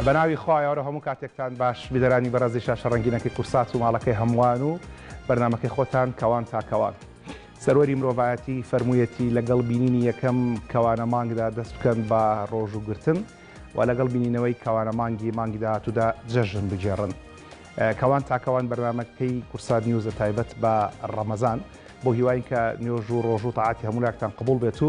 بەناوی خوایەوەرە هەموو کاتێکتان باش بیدەرانی بەرەزی شاشە ڕەنگینەکەی کورسات و ماڵەکەی هەمووان و بەرنامەکەی خۆتان کەوان تاکەوان سەروەری مرۆڤایەتی فەرموویەتی لەگەڵ بینینی یەکەم کەوانە مانگدا دەست بکەن بە ڕۆژ و گرتن و لەگەڵ بینینەوەی کەوانە مانگی مانگی داهاتوودا جەژن بگێڕن کەوان تاکەوان بەرنمەکەی کورسات نیوزە تایبەت بە ڕەمەزان بۆ هیواین کە نوێژ و ڕۆژ و تاعاتی هەمولاکتان قبول بێت و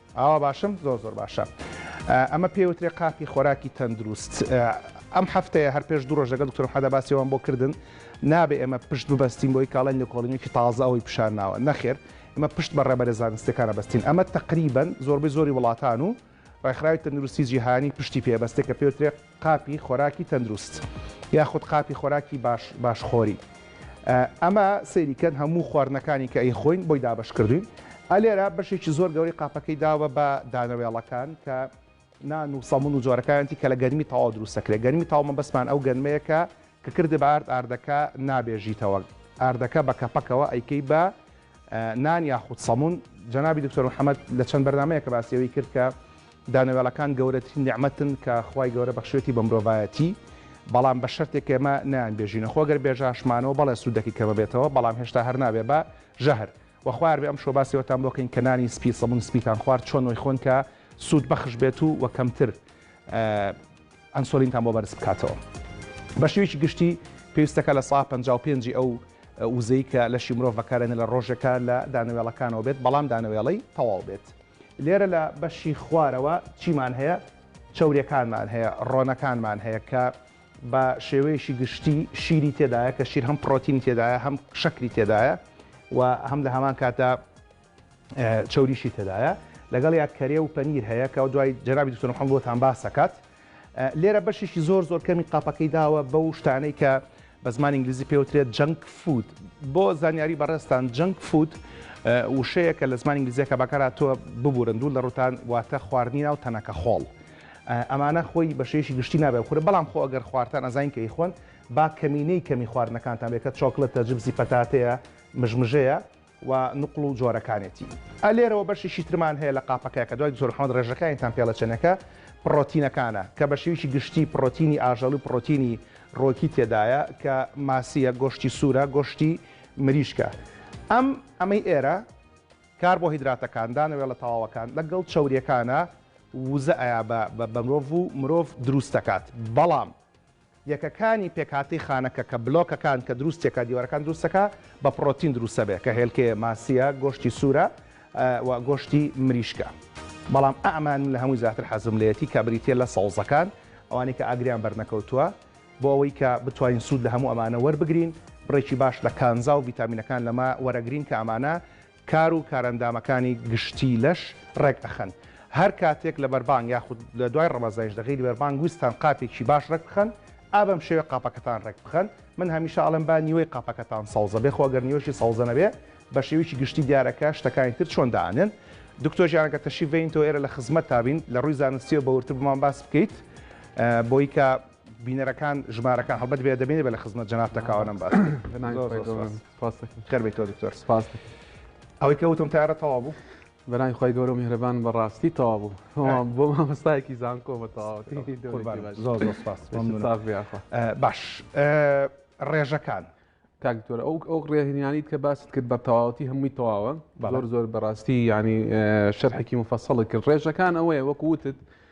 ئاوا باشم زۆر زۆر باشە. ئەمە پێی وترێ قاپی خۆراکی تەندروست. ئەم هەفتەیە هەر پێش دوو ڕۆژ لەگەڵ دکتۆر محمەدا باسی ئەوەم بۆ کردن نابێ ئێمە پشت ببەستین بۆی کاڵێن لێکۆڵینەوەیەکی تازە ئەوەی پیشان ناوە نەخێر ئێمە پشت بە ڕێبەرە زانستیەکانە بەستین ئەمە تەقریبەن زۆربەی زۆری وڵاتان و ڕێکخراوی تەندروستی جیهانی پشتی پێ بەستێ کە پێ وترێ قاپی خۆراکی تەندروست یاخود قاپی خۆراکی باش باش خۆری ئەمە سەیری کەن هەموو خواردنەکانی کە ئەی خۆین بۆی دابش کردوین ئەلێرە بەشێکی زۆر گەوری قاپەکەی داوە بە دانەوێڵەکان کە نان و سەمون و جۆرەکانتی کە لە گەرمی تاوا دروستەکرێ گەرمی تاومە بەسمان ئەو گەنمەیەکە کە کردە بە ئارد ئاردەکە نابێژیتەوە ئاردەکە بە کەپەکەوە ئەیکەی بە نان یاخود سەمون، جەنابی دکتۆر محمد لە چەند بەرنامەیەک کە باسی ئەوەی کرد کە دانەوێڵەکان گەورەترین نیعمەتن کە خوای گەورە بەخشیوەتی بە مرۆڤایەتی بەڵام بە شەرتێک کە ئێمە نایانبێژینە خۆ گەر بێژاشمانەوە بەڵێ سوودەکی کەمە بێتەوە بەڵام هێشتا هەر نابێ بە ژەهر وە خوار بێ ئەم شۆ باسی وەتان بۆ کەین کە نانی سپی سەمون سپیتان خوارد چۆن وەی خۆن کە سوود بەخش بێت و وە کەمتر ئەنسۆلینتان بۆ بەرز بکاتەوە. بە شێوەیەکی گشتی پێویستەکە لە سەعات پەنجا و پێنج ی ئەو وزەی کە لەشی مرۆڤ بەکاردێنێت لە ڕۆژێکا لە دانەوێڵەکانەوە بێت بەڵام دانەوێڵەی تەواو بێت. لێرە لە بەشی خوارەوە چیمان هەیە؟ چەوریەکانمان هەیە، ڕۆنەکانمان هەیە کە بە شێوەیەکی گشتی شیری تێدایە کە شیر هەم پڕۆتینی تێدایە هەم شەکری تێدایە و هەم لە هەمان کاتدا چەوریشی تێدایە لەگەڵیا کەرێ و پەنیر هەیە کە دوای جەنابی دکتۆر محەممەد بۆتان باس دەکات لێرە بەشێکی زۆر زۆر کەمی قاپەکەی داوە بەو شتانەی کە بە زمان ئینگلیزی پێوترێت جەنگ فود بۆ زانیاری بەڕێستان جەنگ فود وشەیە کە لە زمان ئینگلیزیەکە بەکاراتوە ببورن دوو لە ڕوتان واتە خواردنی ناو تەنەکە خۆڵ ئەمانە خۆی بەشێشی گشتی نابێ خورە بەڵام خۆ ئەگەر خواردان ئەزانین کە ئیخۆن با کەمینەی کەمی خواردنەکانتان بێکە چۆکلتە جبزی پەتاتەیە مژمژەیە و نوقڵ و جۆرەکانێتی. ئە لێرەوە بەشێکی ترمان هەیە لە قاپەکە کە دوای دکتۆر محەمەد ڕێژەکانیتان پێڵە چنەکە پڕۆتینەکانە کە بە شێوەیەکی گشتی پڕۆتینی ئاژەڵی و پڕۆتینی ڕۆکی تێدایە کە ماسییە گۆشتی سوورە گۆشتی مریشکە ئەم ئەمەی ئێرە کاربۆهیدراتەکان دانەوێڵە تەواوەکان لە گەڵ چەوریەکانە ووزە ئەیا بە بە مرۆڤ و مرۆڤ درووست دەکات بەڵام یەکەکانی پێکهاتەی خانەکە کە بلۆکەکان کە دروستیەکە دیوارەکان دروستەکە بە پڕۆتین دروستەبێ کە هێلکەیە ماسیە گۆشتی سورە و گۆشتی مریشکە بەڵام ئەمان من لە هەمووی زیاتر حەزم لێتی کە بریتیە لە سەوزەکان ئەوانەی کە ئاگریان بەرنەکەوتووە بۆ ئەوەی کە بتوانین سود لە هەموو ئەمانە وەربگرین بڕێکی باش لە کانزا و ڤیتامینەکان لەمە وەرەگرین کە ئەمانە کار و کارئەندامەکانی گشتی لەش ڕێک ئەخەن هەر کاتێک لە بەربانگ یاخود لە دوای ڕەمەزانیش لە غەیری بەربانگ ویستتان قاپێکی باش ڕێک بخەن ئا بەم شێوەیە قاپەکەتان ڕێک بخەن من هەمیشە ئەڵێم با نیوەی قاپەکەتان سەوزە بێ خۆ گەر نیوەشی سەوزە نەبێ بە شێوەیەکی گشتی دیارە کە شتەکانی تر چۆن دانێن دکتۆر گیان ئەگەر تەشریف بێنیتەوە ئێرە لە خزمەتتا بین لە ڕووی زانستیەوە بە وردتر بۆمان باس بکەیت بۆی کە بینەرەکان ژمارەکان هەڵبەت بێ دەبینێ بە لە خزمەت جەنابتە کاوە نەم باس بکەیت زۆر زۆر سوپاس. سپاس دەکەم خێر بێیتەوە دکتۆر سپاس دەکەم ئەوەی کە وتم تارە تەوا بوو بەناوی خۆی گەورە میهرەبان بەڕاستی تەوا بوو بۆ مامەستایەکی زانکۆ بە تەواوەتی باش ڕێژەکان تاکتۆر ئەو ئەو ڕێهنیانیت کە باست کرد بە تەواوەتی هەمووی تەواوە زۆر زۆر بەڕاستی ینی شەرحێکی مفەسەڵی کرد ڕێژەکان ئەوەیە وەکووتت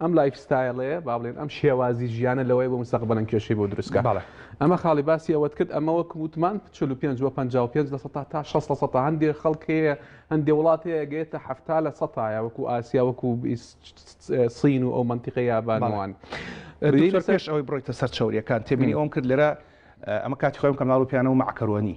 ئەم لایف ستایلەیە با بڵێن ئەم شێوازی ژیانە لەوەی بۆ مستەقبەلەن کێشەی بۆ دروستکە بەڵێ ئەمە خاڵی باسی ئەوەت کرد ئەمە وەکم وتمان 45 و 55 لە سەتا تا 6 لە سەتا هەندێک خەڵکەیە هەندێ وڵات هەیە گەێتە هەفتا لە سەتایە وەکو ئاسیا وەکو سین و ئەو منتیقە یابانەوان ریش ئەوەی بڕیتە سەر چاوریەکان تێبینی ئەوم کرد لێرە ئەمە کاتی خۆم کەناڵ و پیانە و مەعکەرۆنی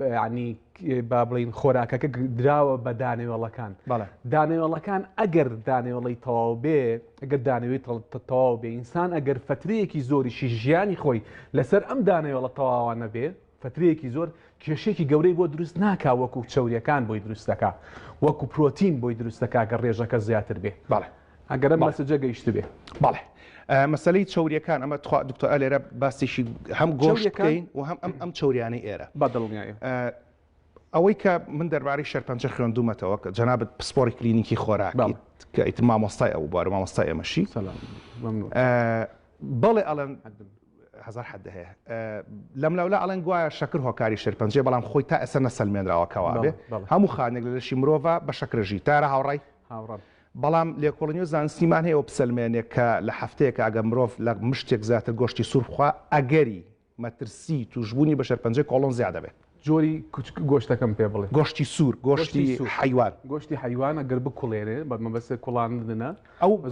یعنی با بڵین خۆراکەکە دراوە بە دانەوێڵەکان دانەوێڵەکان ئەگەر دانەوێڵی تەواو بێ ئەگەر دانەوێت تەواو بێ ئینسان ئەگەر فترەیەکی زۆریشی ژیانی خۆی لەسەر ئەم دانەوێڵە تەواوانە بێ فترەیەکی زۆر کێشێکی گەورەی بۆ دروست ناکا وەکو چوریەکان بۆی دروستەکە وەکو پرۆتین بۆی دروستەکە گە ڕێژەکە زیاتر بێ بەڵێ ئەگەرە مەسجە گەیشتبێ بەڵێ مەسلەی چوریەکان ئەمە تخوا دکتۆ ئەلێرە باسیشی هەم گۆشەکەین و هەم ئەم ئەم چوریانەی ئێرە بەدڵنیایە ئەوەی کە من دەربارەی شەرپەنجە خوێندومەتەوە کە جەنابەت پسپۆری کلینیکی خۆراکیت کە ئیت مامۆستای ئەو بوار مامۆستای ئێمەشی بەڵێ ئەڵەن هزار حد هەیە لەم لاولا ئەڵەن گوایە شەکر هۆکاری شەرپەنجێ بەڵام خۆی تا ئێستا نەسەلمێنراوە کەوابێ هەموو خانێک لە لەشی مرۆڤ بە شەکرەژی تارە هاوڕای هاوڕە بەڵام لێکۆڵینەوە و زانستیمان هەیە ئەوە بسەلمێنێ کە لە هەفتەیەکا ئەگەر مرۆڤ لە مشتێک زیاتر گۆشتی سوور بخوا ئەگەری مەترسی تووشبوونی بە شێرپەنجەی کۆڵۆن زیاد ئەبێ. جۆری گۆشتەکەم پێ بڵێ. گۆشتی سوور، گۆشتی حەیوان. گۆشتی حەیوان ئەگەر بکوڵێنێ، بە مەبەست کوڵاندنە،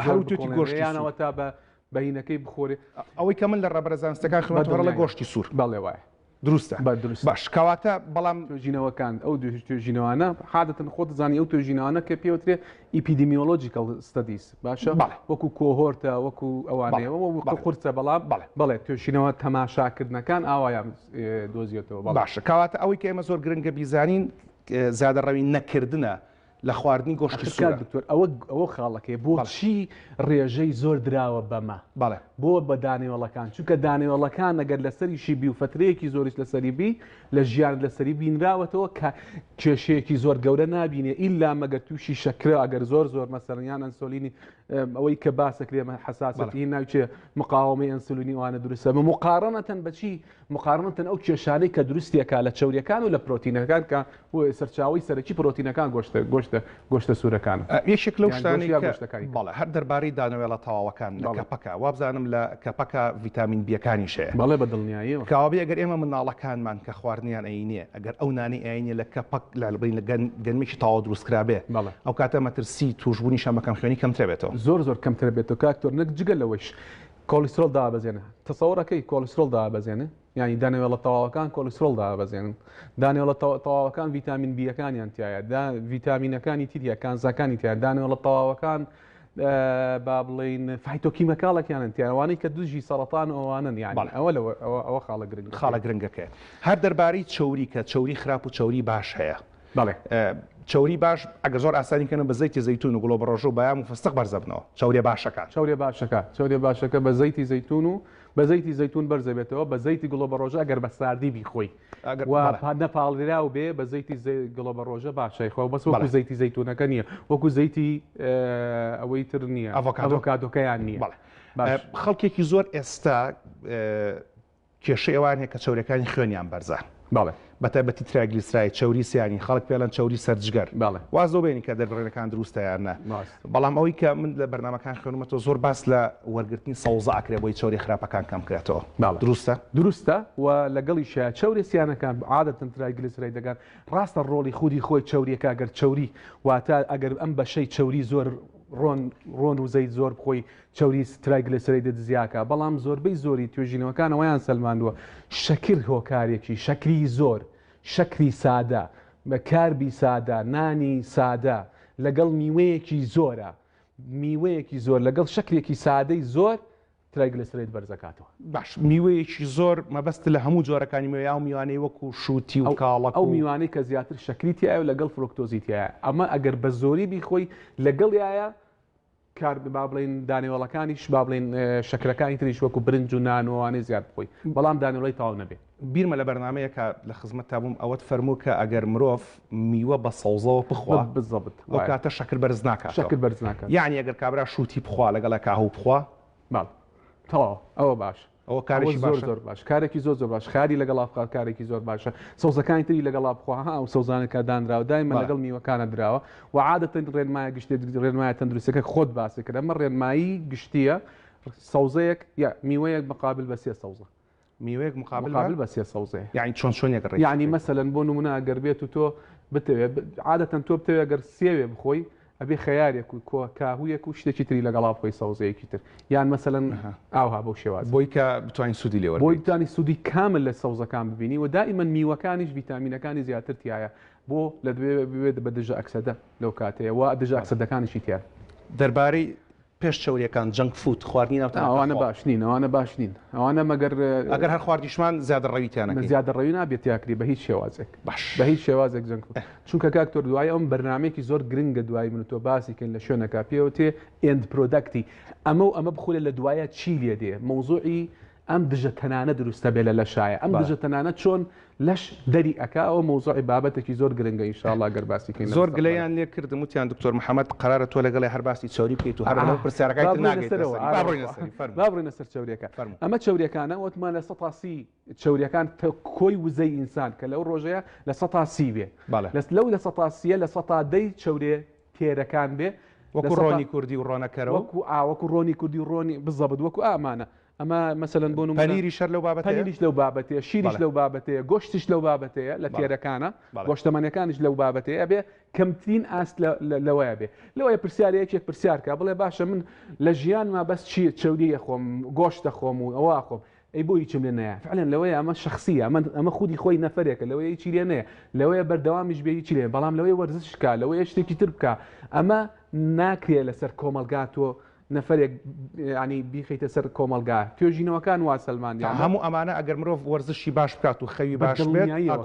زۆر بکوڵێنێ یان ئەوەتا بە بەینەکەی بخۆرێ. ئەوەی کە من لە ڕێبەرە زانستییەکان خوێندوومە گۆشتی سوور. بەڵێ وایە. دروستە بە دروست باش کەواتە بەڵام توێژینەوەکان ئەو توێژینەوانە حادەتن خۆت زانانی ئەو توێژینەوانە کە پێوترێ ئیپیدمیۆلۆجیکەڵ ستدیس باشە وەکو کۆهۆرتە وەکو ئەوانەیەوە قورسە بەڵام بەڵێ بەڵێ توێشینەوە تەماشاکردنەکان ئاوایان دۆزیێتەوە باشە کەواتە ئەوەی کە ئێمە زۆر گرنگە بیزانین زیادە ڕەوی نەکردە لە خواردنی گۆشتی سوورە. ئەخر کاک دکتۆر ئەوە ئەوە خاڵەکەیە بۆچی ڕێژەی زۆر دراوە بەمە بەڵێ. بۆ بە دانەوێڵەکان چونکە دانەوێڵەکان ئەگەر لەسەریشی بی و فەترەیەکی زۆریش لەسەری بی لە ژیانت لەسەری بینراوەتەوە کە کێشەیەکی زۆر گەورە نابینێ ئیلا مەگەر تووشی شەکرە ئەگەر زۆر زۆر مەسەلەن یان ئەنسۆلینی ئەم، ئەوەی کە باسەکرێ مە حەساسەتی ناوچێ مقاوەمەی ئەنسولینی وانە دروستە بە مقاڕەنەتەن بەچی مقارنەتەن ئەو کێشانەی کە دروستیەکا لە چەوریەکان و لە پرۆتینەکان کە سەرچاوەی سەرەکی پرۆتینەکان گۆشتە گۆشتە گۆشتە سورەکانن یەکێک لەو شتانەی کە بەڵێ هەر دەربارەی دانەوێڵە تەواوەکان لە کەپەکە وابزانم لە کەپەکە ڤیتامین بیەکانیش هەیە بەڵێ بە دڵنیایەوە کەوابێ ئەگەر ئێمە مناڵەکانمان کە خواردنیان ئەینێ ئەگەر ئەو نانەی ئەینێ لە کەپەک لە لەبەین لە گەن گەنمێکی تەواو دروست کرابێ بەڵێ ئەو کاتە مەترسی توشبوونی شەمەکەم خوێنی کەمترە بێتەوە زۆر زۆر کەمترە بێتەوە کاکتۆر نەک جگە لەوەیش کۆلیسترۆڵ دابەزێنە، تەسەوڕەکەی کۆلیسترۆڵ دابەزێنە، یانی دانەوێڵە تەواوەکان کۆلیسترۆڵ دابەزێنن، دانەوێڵە تەواوەکان ڤیتامین بییەکانیان تیایە، دا ڤیتامینەکانی تریە کانزاکانی تیایە، دانەوێڵە تەواوەکان با بڵێین فایتۆکیمەکاڵەکیانن تیایە، ئەوانەی کە دژی سەڕەتان و ئەوانەن یانی، بەڵێ ئەوە لەوە ئەوە خاڵە گرنگەکەیە. خاڵە گرنگەکەیە. هەر دەربارەی چەوری کە چەوری خراپ و چەوری باش هەیە. بەڵێ چەوری باش ئەگەر زۆر ئاسانی کەنەوە بە زەیتی زەیتون و گوڵۆ بەڕۆژە و بەیام و فستق بەرز ئەبنەوە چەوریە باشەکان. چەوریە باشەکە چەوریە باشەکە بە زەیتی زەیتون و بە زەیتی زەیتون بەرز ئەبێتەوە بە زەیتی گوڵۆ بەڕۆژە ئەگەر بە ساردی بیخۆی و نەپاڵراو بێ بە زەیتی گوڵۆ بەڕۆژە باشە خۆ بەس وەکو زەیتی زەیتونەکە نییە وەکو زەیتی ئەوەی تر نییە ئەڤۆکادۆکەیان نییە خەڵکێکی زۆر ئێستا کێشەی ئەوان هەیە کە چەوریەکانی خوێنیان بەرزە بەڵێ بە تایبەتی ترایگلیسراید چەوری سیانی خەڵک پێڵەن چەوری سەرجگەر بەڵێ واز لەوە بێنین کە دەربڕینەکان دروستە یان نە ڕاست بەڵام ئەوەی کە من لە بەرنامەکان خوێنمەتەوە زۆر باس لە وەرگرتنی سەوزە ئەکرێ بۆی چەوری خراپەکان کەم کرێتەوە بەڵێ دروستە؟ دروستە و لەگەڵیشیا چەوری سیانەکان عادەتەن ترایگلیسرایدەکان ڕاستە ڕۆڵی خودی خۆی چەوریەکە گەر چەوری واتە ئەگەر ئەم بەشەی چەوری زۆر ڕۆن ڕۆن و زەیت زۆر بخۆی چەوری ترایگلێسرەیدە دزیاکە، بەڵام زۆربەی زۆری توێژینەوەکان ئەوەیان سەلماندووە شەکر هۆکارێکی، شەکری زۆر، شەکری سادە، کاربی سادە، نانی سادە لەگەڵ میوەیەکی زۆرە، میوەیەکی زۆر لەگەڵ شەکرێکی سادەی زۆر ترایگلێسرەید بەرزەکاتەوە. باش میوەیەکی زۆر مەبەستت لە هەموو جۆرەکانی میوە یان ئەو میوانەی وەکو شووتی و کاڵەک ئەو و. میوانەی کە زیاتر شەکری تیایە و لەگەڵ فرۆکتۆزی تیایە، ئەمە ئەگەر بە زۆری بیخۆی لەگەڵیایە کارد با بڵێین دانەوێڵەکانیش با بڵێین شەکرەکانی تریش وەکو برنج و نان و ئەوانەی زیاد بخۆی بەڵام دانەوڵی تاو نەبێ. بیرمە لە بەرنامەیەکا لە خزمەتتا بووم ئەوەت فەرموو کە ئەگەر مرۆڤ میوە بە سەوزەوە بخوا بزەبت ئەو کاتە شەکر بەرز ناکاتەوە شەکر بەرز ناکات یانی ئەگەر کابرا شووتی بخوا لەگەڵ کاهوو بخوا بەڵ تەواو ئەوە باش. ئەوە کارێکی زۆر زۆر باش کارێکی زۆر زۆر باش خاری لەگەڵا بخوا کارێکی زۆر باشە سەوزەکانی تری لەگەڵا بخوا ها ئەو سەوزانە کە دانراوە دایمە بەڵێ. لەگەڵ میوەکانە دراوە و عادەتەن ڕێنمایە گشتێت ڕێنمایە تەندروستەکە خۆت باسی کرد ئەمە ڕێنمایی گشتیە سەوزەیەک یا میوەیەک مقابل بە سێ سەوزە میوەیەک مقابل مقابل بە بە سێ سەوزەیە یعنی چۆن چۆنێک ڕێک یعنی مەسەلەن بۆ نمونە ئەگەر بێت و تۆ بتەوێت عادەتەن تۆ بتەوێت گەر سێوێ بخۆی ئەبێ خەیارێک و کۆ کاهوویەک و شتێکی تری لەگەڵا بخۆی سەوزەیەکی تر یان مەسەلەن ئاوها بەو شێوازە. بۆی کە بتوانین سوودی لێ بۆی وەربگرین. بتوانی سوودی کامل لە سەوزەکان ببینی و دائیمەن میوەکانیش ڤیتامینەکانی زیاتر تیایە بۆ لە دەبێ ببێت بە دژە ئەکسەدە لەو کاتەیە و دژە بەڵێ. ئەکسەدەکانیشی تیایە. دەربارەی پێش چەوریەکان جەنک فود خواردنی ناو تەناقە خۆ. ئەوانە باش نین ئەوانە باش نین ئەوانە مەگەر. ئەگەر هەر خواردیشمان زیادە ڕەوی تیانە کەین. زیادە ڕەوی نابێ تیاکری بە هیچ شێوازێک. باش. بە هیچ شێوازێک جەنک فود. چونکە کاک تۆر دوای ئەم بەرنامەیەکی زۆر گرنگە دوای من و تۆ باسی کەین لە شوێنەکە پێوتێ ئێند پرۆدەکتی ئەمە و ئەمە بخورێ لە دوایە چی لێ دێ مەوزوعی ئەم دژە تەنانە دروستە بێ لە لەشایە ئەم دژە تەنانە چۆن لەش دەری ئەکا ئەوە مەوزوعی بابەتەکی زۆر گرنگە ان شاء اللە گەر باسی کەین زۆر گلەیان لێ کردم وتیان دکتۆر محمد قەرارە تۆ لەگەڵێ هەر باسی چەوری بکەیت و هەر لەو پرسیارەکەی تر ناگەیت با بڕۆینە سەری فەرموو با بڕۆینە سەر چەوریەکە فەرموو ئەمە چەوریەکانە وتمان لە سەتا سی چەوریەکان کۆی وزەی ئینسان کە لەو ڕۆژەیە لە سەتا سی بێ بەڵێ لەس لەو لە سەتا سیە لە سەتا دەی چەورێ تێرەکان بێ وەکو ڕۆنی کوردی و ڕۆنەکەرەوە وەکو ئاوەکو ڕۆنی کوردی و ڕۆنی بزەبت وەکو ئامانە ئەمە مەسەلەن بۆ نمونە پەنیریش هەر لەو بابەتەیە؟ پەنیریش لەو بابەتەیە، شیریش بەڵێ. لەو بابەتەیە، گۆشتیش لەو بابەتەیە لە بەڵێ. تێرەکانە، بەڵێ. گۆشتەمەنیەکانیش لەو بابەتەیە، ئەبێ کەمترین ئاست لە لە لەوەیە بێ. لەوەیە پرسیار یەکێک پرسیار کا، بڵێ باشە من لە ژیانما بەس چی چەوری ئەخۆم، گۆشت ئەخۆم و ئەوە ئەخۆم، ئەی بۆ هیچم لێ نەیە؟ فعلەن لەوەیە ئەمە شەخسیە، ئەمە ئەمە خودی خۆی نەفەرێکە، لەوەیە هیچی لێ نەیە، لەوەیە بەردەوامیش بێ هیچی لێ نەیە، بەڵام لەوەیە وەرزش کا، لەوەیە شتێکی تر بکا، ئەمە ناکرێ لەسەر کۆمەڵگا تۆ نەفەرێک ینی بیخیتە سەر کۆمەلگا توێژینەوەکان وا سەلماندیان هەموو ئەمانە ئەگەر مرۆڤ وەرزشی باش بکات و خەوی باش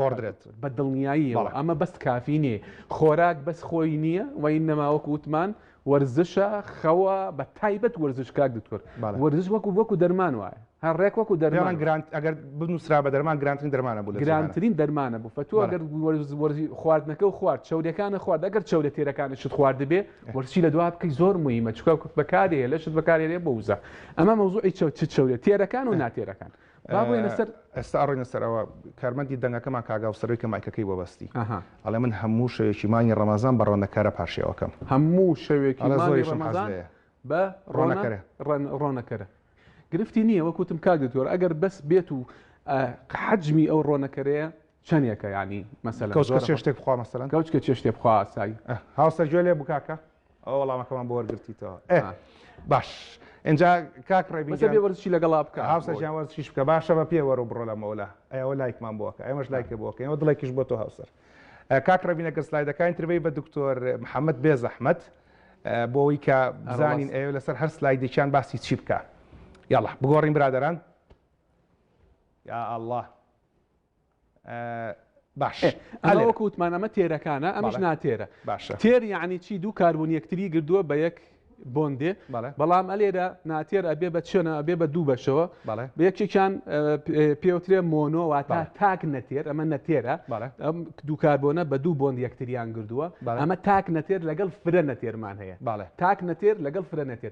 گۆڕدرێت بە دڵنیاییەوە ئەمە بەست کافی نیە خۆراک بەس خۆی نییە وای نەماوەک وتمان وەرزشە خەوە بە تایبەت وەرزش کاک دکتۆر وەرزش وەکو وەکو دەرمان وایە هەر ڕێک وەکو دەرمان گرانت ئەگەر بنووسرا بە دەرمان گرانترین دەرمانە بوو گرانترین دەرمانە بوو فەتوو ئەگەر وەرزی خواردنەکە و خوارد چاودەکانە خوارد ئەگەر چاودە تێرەکانت شت خواردبێ وەرچی لە دوا بکەی زۆر مویمە چکە کورت بەکارێ لەشت بەکارێنێ بۆ وزە ئەمە مەوزوعی چەوت چ چەورێت تێرەکان و ناتێرەکان بابێنە سەر ئێستا ئەڕێنە سەرەوە کارمەندی دەنگەکەمان کاگااو سەرەوەی کە مایکەکەی بۆ بەستی ئەڵێ من هەموو شەوێکی مانگی ڕەمەزان بە ڕۆنەکەرە پارشێوەکەم هەموو شەوێکی زۆری ڕەمەزان بە ڕۆنەکەرە ڕۆنەکەرە گرفتی نییە وەکوتم کاک دکتۆر ئەگەر بەس بێت و حەجمی ئەو ڕۆنەکەرەیە چەنێکە یانی مەسەلەن کەوچ کە چێ شتێک بخوا مەسەلەن کەوچ کە چێ شتێ بخوا ئاسایی هاوسەر گوێ لێ بوو کاکە ئەوە وەڵامەکەمان بۆ وەرگرتیتەوە ئێ باش ئینجا کاک ڕێبین جا بێ وەرزشی لەگەڵا بکە هاوسەر جیان وەرزشیش بکە باشە بە پێ وەرە بڕۆ لە مەولا ئەوە لایکمان بووە کە ئێمەش لایکە بووە کە ئێمە دڵێکیش بۆ تۆ هاوسەر کاک ڕێبینە گەر سلایدەکانی تربەی بە دکتۆر محەممەد بێ زەحمەت بۆەوەی کە بزانین ئەوێ لەسەر هەر سلایدێکیان باسی چی بکە یاڵە بگۆڕین برادران یا الله باش ئەمە وەکو وتمان ئەمە تێرەکانە ئەمەش بەڵێ. ناتێرە باشە تێر یعنی چی دوو کاربوون یەکتری گردووە بە یەک بۆندێ بەڵێ بەڵام ئەلێرە ناتێر ئەبێ بە چێنە ئەبێ بە دوو بەشەوە بەڵێ بە یەکێکیان ئە، پێ- پێوترێ مۆنۆ واتە بەڵێ. تاک نەتێر ئەمە نەتێرە بەڵێ ئەم دوو کاربۆنە بە دوو بۆند یەکتریان گردووە بەڵێ ئەمە تاک نەتێر لەگەڵ فرە نەتێرمان هەیە بەڵێ تاک نەتێر لەگەڵ فرە نەتێر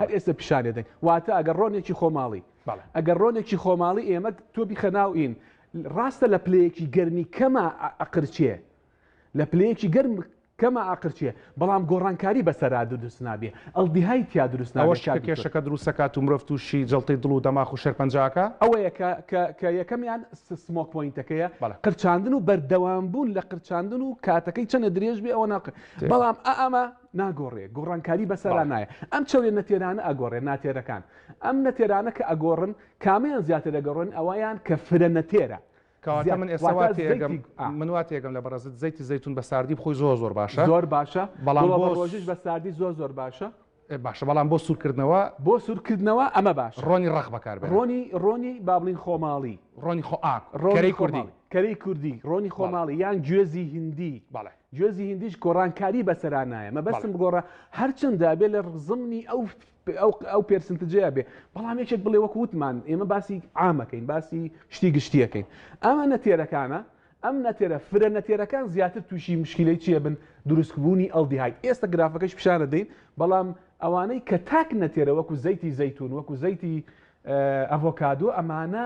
هەر ئێستە پیشان ئەدەین واتە ئەگەر ڕۆنێکی خۆماڵی ئەگەر ڕۆنێکی خۆماڵی ئێمە تۆ بیخە ناو ئین ڕاستە لە پلەیەکی گەرمی کەمە ئەقرچێ لە پلەیەکی گەرم کەمە ئاقرچێ بەڵام گۆڕانکاری بەسەرا دروست نابێ ئەڵدیهای تیا دروست ناوە کێشەکە دروستەکات و مرۆڤ تووشی جڵتەی دڵ و دەماخ و شێرپەنجاکە ئەوەیە کە یەکەمیان سمۆک پوینتەکەیە قرچاندن و بەردەوام بوون لە قرچاندن و کاتەکەی چەنە درێژ بێ ئەوە ناقل بەڵام ئەمە ناگۆڕێ گۆڕانکاری بەسەرا بەڵێ. نایە ئەم چەورە نەتێرانە ئەگۆڕێ ناتێرەکان ئەم نەتێرانە کە ئەگۆڕن کامیان زیاتر ئەگۆڕن ئەوەیان کە فرە نەتێرە کەواتە زیات من ئێستا واتە واتێگەم زەیتی ئا. من واتێگەم لە بەڕێزت زەیتی زەیتون بە ساردی بخۆی زۆر زۆر باشە زۆر باشە بەڵام گوڵە بۆ بە ڕۆژیش بە ساردی زۆر زۆر باشە. ئێ باشە بەڵام بۆ سورکردنەوە بۆ سورکردنەوە ئەمە باشە ڕۆنی ڕەق بەکار بێنە. ڕۆنی ڕۆنی بابڵین خۆماڵی. ڕۆنی خۆ ئا ڕۆنی کەرەی کوردی. خۆماڵی کەرەی کوردی ڕۆنی بەڵێ. خۆماڵی یان گوێزی هندی. بەڵێ. گوێزی هیندیش گۆڕانکاری بەسەرا نایە مەبەستم بگۆڕە هەرچەندە ئەبێ لە زمنی ئەو ئەو پێرسنتجەیە بێ بەڵام یەکێک بڵێ وەک وتمان ئێمە باسی عامەکەین باسی شتی گشتیەکەین ئەمە نەتێرەکانە ئەم نەتێرە فرە نەتێرەکان زیاتر تووشی مشکلەی چیە بن دروستبوونی ئەلدیهایت ئێستا گرافەکەش پیشانە دەین بەڵام ئەوانەی کە تاک نەتێرە وەکو زەیتی زەیتون وەکو زەیتی ئەڤۆکادۆ ئەمانە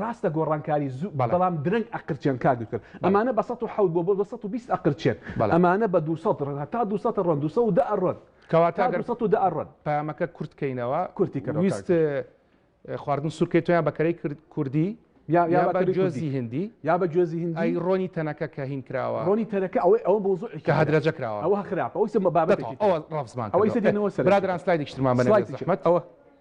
ڕاستە گۆڕانکاری زوو بەڵێ. بەڵام درەنگ ئەقرچێن کاک دکتۆر بەڵێ. ئەمانە بە سەد و حەوت بۆ بۆ بە سەد و بیست ئەقرچێن بەڵێ. ئەمانە بە دوو سەد ڕۆن هەتا دوو سەد ڕۆن دوو سەد و دە ئەڕۆن کەواتە تا ئەگەر دوو سەد و دە ئەڕۆن پەیامەکە کورت کەینەوە کورتی کەرەوە کاک ویست دکتۆر. خواردن سورکەی تۆیان بە کەرەی کر کوردی یا یا یا بە بە کەرەی کوردی جۆزی هندی یا بە گوێزی هندی ئەی ڕۆنی تەنەکە کە هین کراوە ڕۆنی تەنەکە ئەوەی ئەوە مەوزوعێکی کە ترە هەدرەجە کراوە ئەوە خراپە ئەویسە مە بابەتێکی ترە ئەوە ڕەفزمان ئەوە ئیسە کردوە دێنەوە سەرەوە برا برا سلایدێکیشترمان بەنێوە سڵایدێکی زەحمەت ئەوە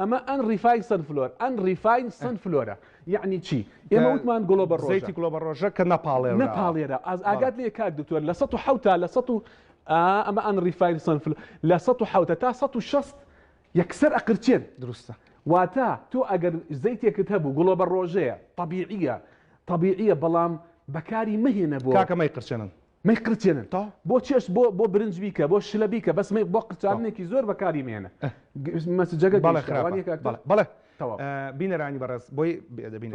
ئەمە ئەن ڕیفاین سەن فلۆر ئەن ڕیفاین سەن فلۆرە یەعنی چی ئێمە وتمان گڵۆبە ڕۆژە زەیتی گڵۆبە ڕۆژە کە نەپاڵێوراوە نەپاڵێرا ئاز ئاگات لێ کاک دکتۆر لە سەد و حەوتا لە سەد و ئەمە ئەن ڕیفاین سەن فلۆر لە سەد و حەوتە تا سەد و شەست یەکسەر ئەقرچێن دروستە واتە تۆ ئەگەر زەیتێکت هەبوو گڵۆبە ڕۆژەیە تەبیعیە تەبیعیە بەڵام بەکاری مەهێنە بۆ کاکە مەیقرچێنن مەی قرتێنن تاو بۆ چێشت بۆ بۆ برنج بیکە بۆ شلە بیکە بەس مەی بۆ قرچارنێکی زۆر بەکاری مێنە مەسجەگە بەڵێ خراپە بەڵێ بینەرانی بەڕێز بۆی بێدەبین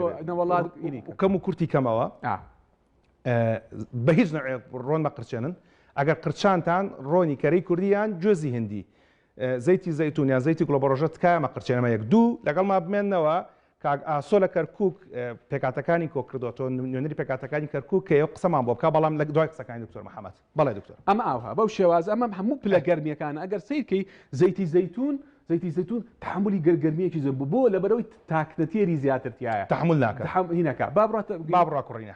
کەم و کورتی کەمەوە بە هیچ نەوێت ڕۆن مەقرچێنن ئەگەر قرچانتان ڕۆنی کەرەی کوردیان گوێزی هندی زەیتی زەیتون یان زەیتی گوڵە بەڕۆژە تکایە مەقرچێنەمە یەک دوو لەگەڵمان بمێنەوە کاک ئاسۆ لە کەرکوک پێکاتەکانی کۆکردوە تۆ نوێنەری پێکاتەکانی کەرکوک کەیە و قسەمان بۆ بکە بەڵام لە دوای قسەکانی دکتۆر محمد بەڵێ دکتۆر. ئەمە ئاوها بەو شێوازە ئەمە هەموو پلە گەرمیەکانە ئەگەر سەیر کەی زەیتی زەیتون زەیتی زەیتون تەحەمولی گەر گەرمیەکی زۆر بۆ بۆ لەبەرەوەی تاکنەتێری زیاتر تیایە تەحمول ناکا هینەکە با بڕاتە با بڕا کوڕینە.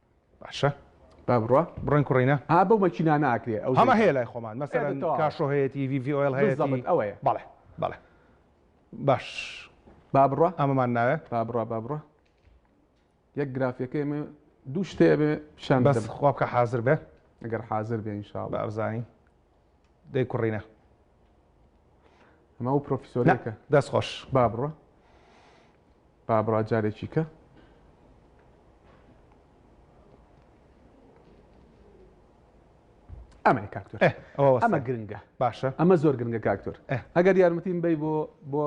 باشە با بڕوا بڕۆین کوڕینە. ها بەو مەکینانە ئاکرێ ئەو هەمە هەیە لای خۆمان مەسەلەن کاشۆ هەیەتی ڤی ڤی ئۆیڵ هەیەتی بزەبت ئەوەیە بەڵێ بەڵێ باش با بڕوا ئەمەمان ناوێ با بڕا با بڕا یەک گرافیەکەی مێ دوو شتێ بێ پیشان بەس خوا بکە حازر بێ ئەگەر حازر بێ ئینشاڵڵا بارزانی دەی کوڕینە ئەمە ئەو پرۆفیسۆرەکە دەست خۆش با بڕۆ با بڕا جارێکی کە ئەمە کاکتۆر ئەمە گرنگە باشە ئەمە زۆر گرنگە کاکتۆر ئەگەر یارمەتیم بی بۆ بۆ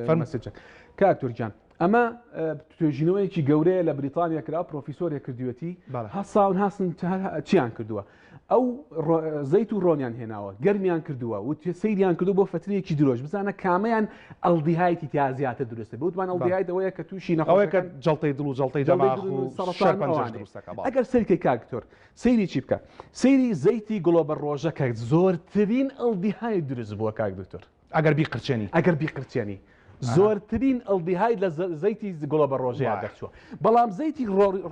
فەرمەسجە کاکتۆر جان ئەمە توێژینەوەیەکی گەورەیە لە بریتانیا کرا پرۆفیسۆرێک کردوێتی هەساون هاسن چیان کردووە ئەو زەیت و ڕۆنیان هێناوە گەرمیان کردووە و سەیریان کردو بۆ فترەیەکی درۆژ بزانە کامیان ئەلدیهایتی تا زیاتر دروستە بوتمان ئەڵدیهایتەوەیە کە تووشی نەخۆەکە جڵتەی دڵ و جڵتەی دەماغ ئەگەر سەرکەی کاکتۆر سەیری چی بکە سەیری زەیتی گڵۆبەر ڕۆژەکە زۆرترین ئەڵدیهای دروست بووە کاک دکتۆر ئەگەر بیقرچێنی ئەگەر بیقرچێنی زۆرترین ئەلدیهای لە زەیتی گڵۆبە ڕۆژەیە دەرچووە بەڵام زەیتی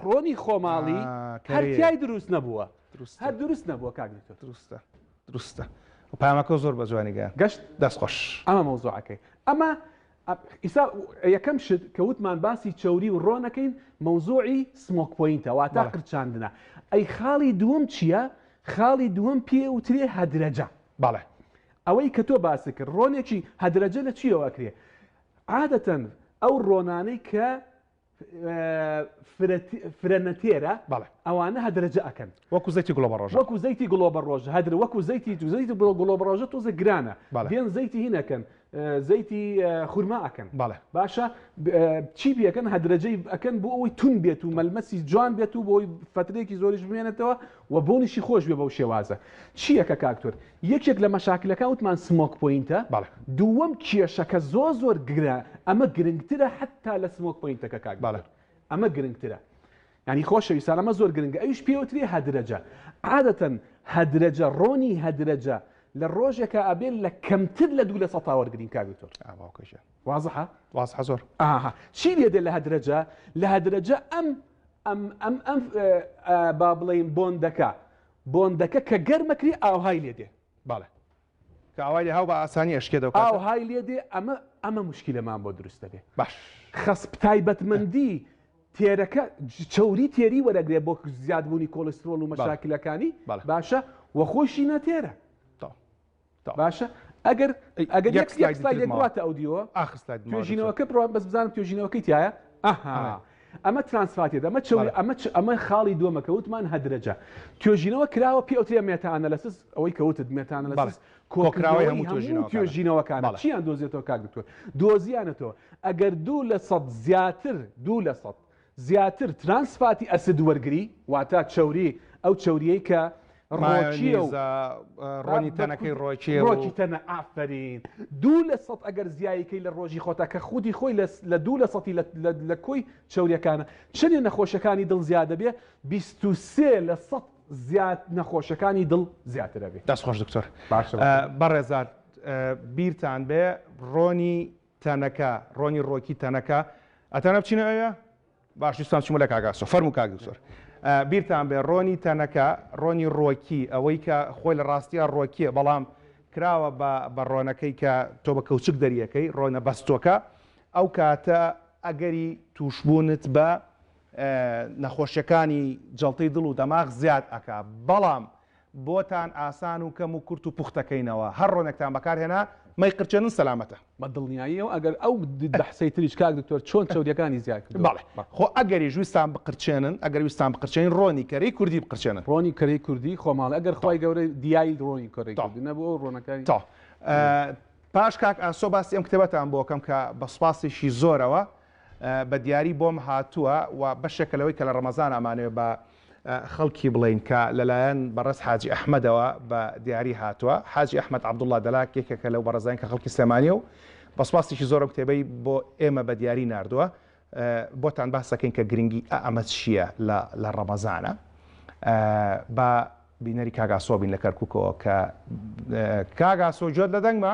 ڕۆنی خۆماڵی هەرتیای دروست نەبووە هەر دروست نەبووە کاک دروستە دروستە و پامەکە زۆر بە جوانیگە گەشت دەستخۆش ئەمە مەوزوعەکەی ئەمە ئیسا یەکەم شت کە وتمان باسی چوری و ڕۆنەکەین مەوزوعی سمۆک پوینتە واتا قرچاندنە ئەی خاڵی دووەم چییە خاڵی دووەم پێ وترێ هەدرەجە باڵێ ئەوەی کە تۆ باست کرد ڕۆنێکی هەدرەجە لە چیەوە ئەکرێ عادەتەن ئەو ڕۆنانەی کە فرەنەتێرە بەڵێ ئەوانە هەدرەجە ئەکەن وەکو زەیتی گڵۆبە ڕۆژ وەکو زەیتی گڵۆبە ڕۆژ هەدر وەکو زەیتی تو زەیتی بڵۆ گڵۆبە ڕۆژە تۆزە گرانە بێن زەیتی هینەکەن زەیتی خورما ئەکەن بەڵێ باشە چی بەکەن هەدرەجەی ئەکەن بۆ ئەوەی تون بێت و مەلمەسی جوان بێت و بۆی فترێکی زۆریش بمێنێتەوە و بۆنیشی خۆش بێ بەو شێوازە چییە کە کاکتۆر یەکێک لە مەشاکلەکان وتمان سمۆک پۆینتە بەڵێ. دووەم کێشەکە زۆر زۆر گرە ئەمە گرنگترە حەتا لە سمۆک پۆینتەکە کاک بەڵێ. دکتۆر ئەمە گرنگترە یانی خۆشەویستان ئەمە زۆر گرنگە ئەویش پێی وتری هەدرەجە عادەتەن هەدرەجە ڕۆنی هەدرەجە لە ڕۆژێکا ئەبێ لە کەمتر لە دوو لە سەتا وەرگرین کاک دکتۆر ئا باوکە گیان وازحە؟ وازحە زۆر. ئاها چی لێ دێ لە هەدرەجە لە هەدرەجە ئەم ئەم ئەم ئەم ئە ئە با بڵێین بۆندەکە بۆندەکە کە گەرمە کری ئاوهای لێ دێ بەڵێ. کە ئاوای لێ هاو بە ئاسانی ئەشکێت ئەو کاتە. ئاوهای لێ دێ ئەمە ئەمە موشکیلەمان بۆ دروست دەبێ. باش. خەسپ تایبەتمەندی تێرەکە چەوری تێری وەرەگرێ بۆ زیادبوونی کۆڵیسترۆڵ و مەشاکلەکانی باشە و خۆیشی نەتێرە. تەواو. باشە ئەگەر ئەگەر یەک سلای سلایدێک بڕاتە ئەو دیوە ئاخر سلای توێژینەوەکە بڕات بەس بزانم توێژینەوەکەی تایە ئەها ئەمە ترانسفاتێت ئەمە چ ئەمە چ ئەمە خاڵی دووەمە کەوتمان هەدرەجە توێژینەوە کراوە پێ ئەوترێ مێتانەلەسس ئەوەی کەوتت مێتانەلەس کۆکراوی هەموو توێژینەوەکانە چیان دۆزێتەوە کاک دکتۆر دۆزیانەتەوە ئەگەر دوو لە سەد زیاتر دوو لە سەد زیاتر ترانس فاتی ئەسد وەرگری واتە چەوری ئەو چەوریەی کە ڕۆکیە و مایۆنیزە ڕۆنی تەنەکەی ڕۆکیە و ڕۆکی تەنە ئافەرین دوو لە سەد ئەگەر زیایی کەی لە ڕۆژی خۆتا کە خودی خۆی لە لە دوو لە سەتی لە لە لە کۆی چەوریەکانە چنێ نەخۆشەکانی دڵ زیا دەبێ بیست و سێ لە سەد زیاد نەخۆشەکانی دڵ زیاتر ئەبێ. دەست خۆش دکتۆر باشە باشە. بەڕێزان بیرتان بێ ڕۆنی تەنەکە ڕۆنی ڕۆکی تەنەکە ئەتەنە بچینە ئەوێ؟ باش دوستان چوومە لە کاک ئاسۆ فەرموو کاک دکتۆر بیرتان بێ ڕۆنی تەنەکە ڕۆنی ڕۆکی ئەوەی کە خۆی لە ڕاستیە ڕۆکیە بەڵام کراوە بە بە ڕۆنەکەی کە تۆ بە کەوچک دەریەکەی ڕۆنە بەستۆکە ئەو کاتە ئەگەری تووشبوونت بە نەخۆشیەکانی جەڵتەی دڵ و دەماغ زیاد ئەکا بەڵام بۆتان ئاسان و کەم و کورت و پوختەکەینەوە هەر ڕۆنێکتان بەکار هێنا مەی قرچێنن سەلامەتە. بە دڵنیاییەوە ئەگەر ئەو بەحسەی تریش کاک دکتۆر چۆن چەوریەکانی زیاد کردووە. بەڵێ خۆ ئەگەریش ویستان بقرچێنن ئەگەر ویستان بقرچێنین ڕۆنی کەرەی کوردی بقرچێنن. ڕۆنی کەرەی کوردی خۆماڵی ئەگەر خوای گەورە دیای ڕۆنی کەرەی کوردی نەبوو ئەو ڕۆنەکانی. تۆ پاش کاک ئاسۆ باسی ئەم کتێبەتان بۆ کەم کە بە سوپاسێکی زۆرەوە بە دیاری بۆم هاتووە و بەشێکە لەوەی کە لە ڕەمەزان ئەمانەوێ بە خەڵکی بڵێین کە لەلایەن بەڕێز حاجی ئەحمەدەوە بە دیاری هاتووە، حاجی ئەحمەد عەبدوڵڵا دەلاک یەکێکە لەو بەڕێزانەی کە خەڵکی سلێمانییە و بە سوپاسێکی زۆر ئەم کتێبەی بۆ ئێمە بە دیاری ناردووە، بۆتان باس دەکەین کە گرنگی ئە ئەمە چییە لە ڕەمەزانە. با بینەری کاک ئاسۆ بین لە کەرکووکەوە کە کاک ئاسۆ گوێت لە دەنگمە؟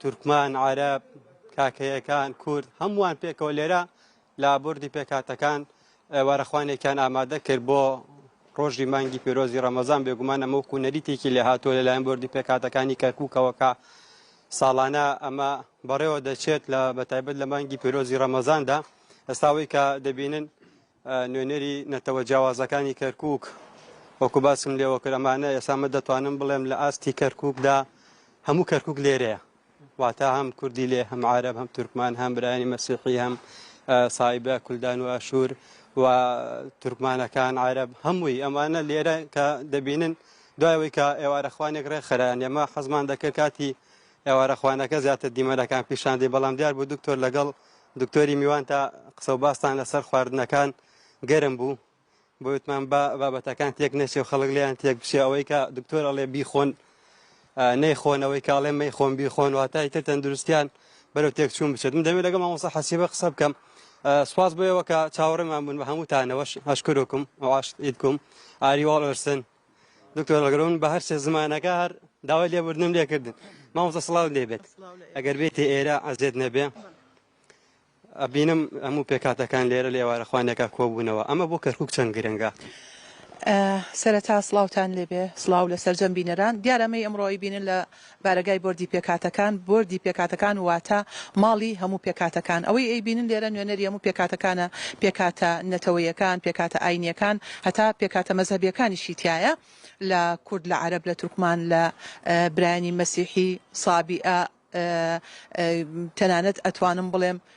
تورکمان، عەرەب، کاکەیەکان، کورد هەمووان پێکەوە لێرە لە بردی پێکاتەکان وارەخوانێکیان ئامادە کرد بۆ ڕۆژی مانگی پیرۆزی ڕەمەزان بێگومان ئەمە وکو نەریتێکی لێ هاتووە لەلایەن بردی پێکاتەکانی کەرکووکەوەکە ساڵانە ئەمە بەڕێوە دەچێت لە بەتایبەت لە مانگی پیرۆزی ڕەمەزاندا ئەستاوەی کە دەبینن نوێنەری نەتەوە جیاوازەکانی کەرکووک وەکو باسم لێوە کرد ئەمانە ئێستا من دەتوانم بڵێم لە ئاستی کەرکووکدا هەموو کەرکووک لێرەیە واتە هەم کوردی لێ هەم عرب هەم تورکمان هەم برایانی مەسیحی هەم سایبە کولدان و ئاشور و تورکمانەکان عرب هەمووی ئەمانە لێرە کە دەبینن دوایەوەی کە ئێوارەخوانێک ڕێکخران ئێمە حەزمان دەکرد کاتی ئێوارەخوانەکە زیاتر دیمەنەکان پیشاندی بەڵام دیار بوو دکتۆر لەگەڵ دکتۆری میوان تا قسە و باستان لەسەر خواردنەکان گەرم بوو بۆتمان با بابەتەکان تێک نەچێ و خەڵک لیان تێک بچێ ئەوەی کە دکتۆر ئەڵێ بیخۆن نەیخۆنەوەی کاڵێ مەی خۆم بیخۆن واتای تر تەندروستیان بەرەو تێک چوون بچێت من دەوێت لەگەڵ مامۆسا حەسیبە قسە بکەم سوپاس بۆیەوە کە چاوەڕێمان بوون بە هەموو تانەوەش هەشکرکم ئەواشیدکم ئاری واڵرسن دکتۆر ئەگەرون بە هەر سێ زمانەکە هەر داوای لێبوردنم لێکردن مامۆستا سڵاو لێبێت ئەگەر بێتێ ئێرە ئەزێت نەبێ ئەبینم هەموو پێکاتەکان لێرە لێوارە خوانێکە کۆبوونەوە ئەمە بۆ کەرکک چەند گرنگە. سەرەتا سڵاوتان لێبێ سڵاو لە سەرجەم بینەران دیارەمەی ئەمڕۆی بینن لە بارەگای بۆردی پێکهاتەکان، بۆردی پێکهاتەکان واتە ماڵی هەموو پێکهاتەکان. ئەوەی ئەیبینن لێرە نوێنەری هەموو پێکهاتەکانە، پێکهاتە نەتەوەیەکان، پێکهاتە ئاینییەکان، هەتا پێکهاتە مەزهەبییەکانیشی تیایە، لە کورد، لە عەرەب، لە تورکمان، لە برایانی مەسیحی، سابیئە، تەنانەت ئەتوانم بڵێم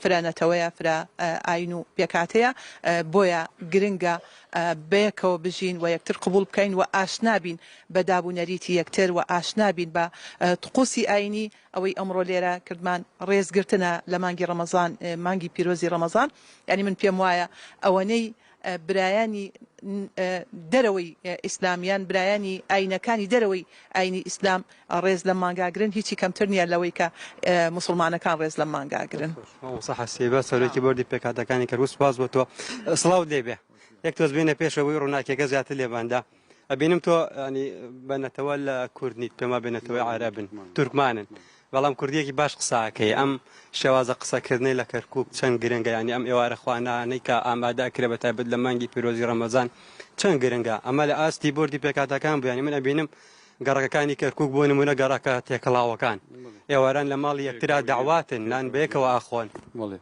فرە نەتەوەیە، فرە ئاین و پێکهاتەیە، بۆیە گرنگە بەیەکەوە بژین و یەکتر قبوڵ بکەین و ئاشنا بین بە داب و نەریتی یەکتر و ئاشنا بین بە طقوسی ئاینی، ئەوەی ئەمڕۆ لێرە کردمان ڕێزگرتنە لە مانگی ڕەمەزان، مانگی پیرۆزی ڕەمەزان، یانی من پێم وایە ئەوەنەی برایانی دەرەوەی ئیسلام یان برایانی ئاینەکانی دەرەوەی ئاینی ئیسلام ڕێز لەم مانگاگرن هیچی کەمتر نیە لەوەی کە موسڵمانەکان ڕێز لەم مانگاگرن. سەرۆکی بۆردی پێکهاتەکانی کەرکوک سوپاس بۆ تۆ سڵاوت لێبێ یەک تۆز بێنە پێشەوەی ڕووناکیەکە زیاتر لێباندا. ئەبینم تۆ ینی بە نەتەوە لە کوردنیت پێما بێ نەتەوەی عربن تورکمانن بەڵام کوردیەکی باش قساکەی ئەم شێوازە قسەکردنی لە کەرکک چەند گرنگە ینی ئەم ئێوارە خوانانەی کە ئامادا کرێ بە تایبەت لە مانگی پیرۆزی ڕەمەزان چەند گرنگە ئەمە لە ئاستی بردی پێکاتەکان بوویانی من ئەبینم گەڕەکەکانی کەرکک بۆ نمونە گەڕەکە تێکەڵاوەکان ئێواران لە ماڵی یەکترا داواتن نان بەیەکەوە ئاخۆن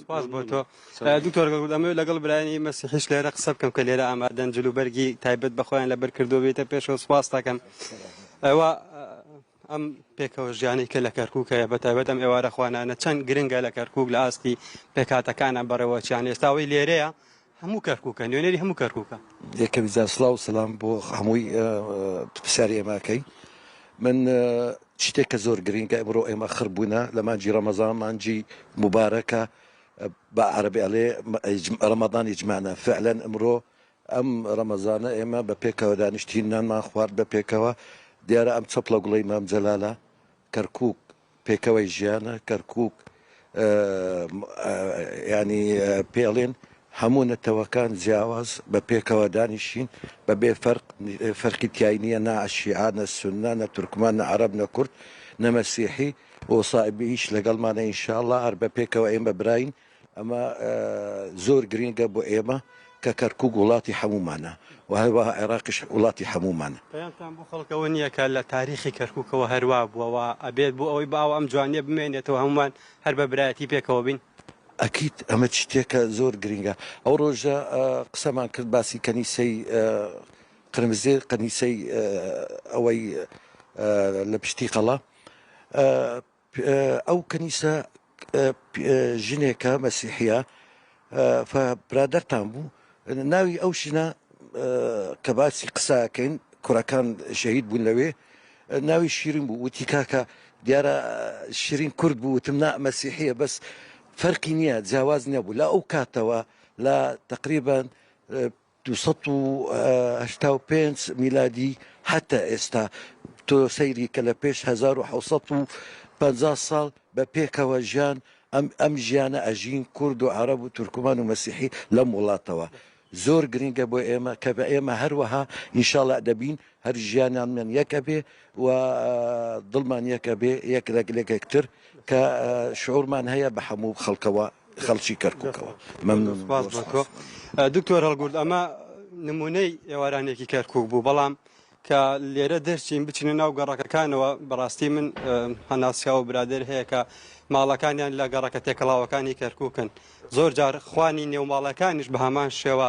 سپاس بۆ تۆ دکتۆر گەڵگوت ئەمەوێت لەگەڵ برایانی مەسیحیش لێرە قسە بکەم کە لێرە ئامادەن جلوبەرگی تایبەت بە خۆیان لەبەر کردو بێتە پێشەوە سپاس دەکەم ئەوە ئەم پێکەوە ژیانی کە لە کەرکک هەیە بە تایبەت ئەم ئێوارە خوانانە چەند گرنگە لە کەرکک لە ئاستی پێکاتەکانە بەڕێوەچیان ئێستاوەی لێرەیە هەموو کەرکوکە نوێنەری هەموو کەرکوکە. یەکەمی جار سڵاو سەلام بۆ هەمووی پرسیاری ئێمە ئەکەی من شتێک کە زۆر گرینگە ئەمڕۆ ئێمە خڕ بوونە لە مانجی ڕەمەزان مانجی مبارەکە بە عربی ئەلێ ڕەمەدان ئیجمانە فعلەن ئەمڕۆ ئەم ڕەمەزانە ئێمە بە پێکەوە دانیشتین نانمان خوارد بە پێکەوە دیارە ئەم چەپڵە گوڵەی مام جەلالە کەرکک پێکەوەی ژیانە، کەرکوک، یانی پێڵێن هەموو نەتەوەکان جیاواز بە پێکەوە دانیشین بە بێ فەرق، فەرقی تیای نییە نە شیعە نە سوننە نە تورکمان نە عەرەب نە کورد نە مەسیحی و سائبی ئیش لەگەڵمانە ان شاء اللە هەر بە پێکەوە ئێمە براین. ئەمە زۆر گرینگە بۆ ئێمە کە کەرکوک وڵاتی هەموومانە و هەروەها عێراقیش وڵاتی هەموومانە. پەیامتان بۆ خەڵک ئەوە نییە کە لە تاریخی کەرکوکەوە هەر وا بووە و ئەبێت بۆ ئەوەی باو ئەم جوانییە بمێنێتەوە هەموومان هەر بە برایەتی پێکەوە بین؟ ئەکید، ئەمە شتێکە زۆر گرینگە. ئەو ڕۆژە قسەمان کرد باسی کەنیسەی قرمزێ، قەنیسەی ئەوەی لە پشتیقەڵا، ئەو کەنیسە ژنێکە مەسیحە برادەرتان بوو ناوی ئەو ژنە کە باسی قساکەین کوڕەکان شەهید بوون لەوێ ناوی شیرین بوو وتی کاکە دیارە شیرین کورد بوو وتم نا مەسیحە بەس فەرقی نییە جیاواز نییە بوو لە ئەو کاتەوە لە تقریبان دوو سەد و هەشتا و پێنج میلادی هەتا ئێستا تۆ سەیری کە لە پێش هەزار و حەوت سەد و پەنجا ساڵ بە پێکەوە ژیان ئەم ئەم ژیانە ئەژین کورد و عەرەب و تورکمان و مەسیحی لەم وڵاتەوە زۆر گرنگە بۆ ئێمە کە بە ئێمە هەروەها ئینشاڵا دەبین هەر ژیانانمان یەک ئەبێ و دڵمان یەک ئەبێ یەک رەگ لەگ یەکتر کە شعورمان هەیە بە هەموو خەڵکەوە خەڵکی کەرکووکەوە مەمنون سپاس بۆ تۆ دکتۆر هەڵگورد ئەمە نموونەی ئێوارانێکی کەرکووک بوو بەڵام کە لێرە دەرچین بچینە ناو گەڕەکەکانەوە بەڕاستی من هەناسیا و برادر هەیە کە ماڵەکانیان لە گەڕەکە تێکەڵاوەکانی کەرکووکن زۆر جار خوانی نێوماڵەکانیش بە هەمان شێوە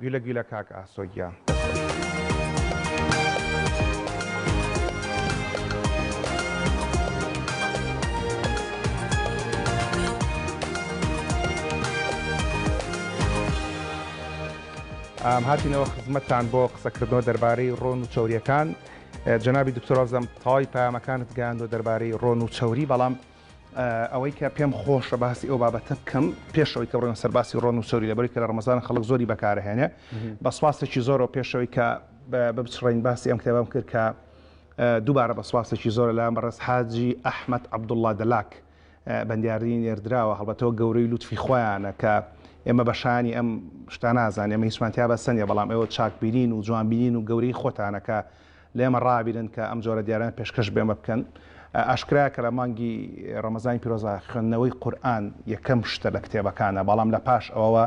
گولە گولە کاک ئاسۆ گیان. هاتینەوە خزمەتتان بۆ قسەکردنەوە دەربارەی ڕۆن و چەوریەکان جەنابی دکتۆرازم تەواوی پامەکانت گەیاندوە دەربارەی ڕۆن و چەوری بەڵام ئەوەی کە پێم خۆشە باسی ئەو بابەتە بکەم پێشەوەی کە بڕێن سەرباسی ڕۆن و سۆری لەبەری کە لە ڕمەزان خەڵک زۆری بەکارهێنێ بە سواسێکی زۆرەوە پێشەوەی کە بچڕین باسی ئەم کتێبم کرد کە دووبارە بە سواسێکی زۆر لەم بەڕێز حاجی ئەحمد عبدوڵڵا دەلاک بەندیاری نێردراوە هەڵبەتەوە گەورەی لوتفی خۆیانە کە ئێمە بەشانی ئەم شتانازان ئێمە هیچمانتیا بەسەنە بەڵام ئێوە چاکبیرین و جوانبیین و گەورەی خۆتانەکە لێمە ڕابیرن کە ئەم جۆرە دیاریانە پێشکەش بێمە بکەن. ئاشکرایە کە لە مانگی ڕەمەزانی پیرۆزدا خوێندنەوەی قورئان یەکەم شتە لە کتێبەکانە، بەڵام لە پاش ئەوەوە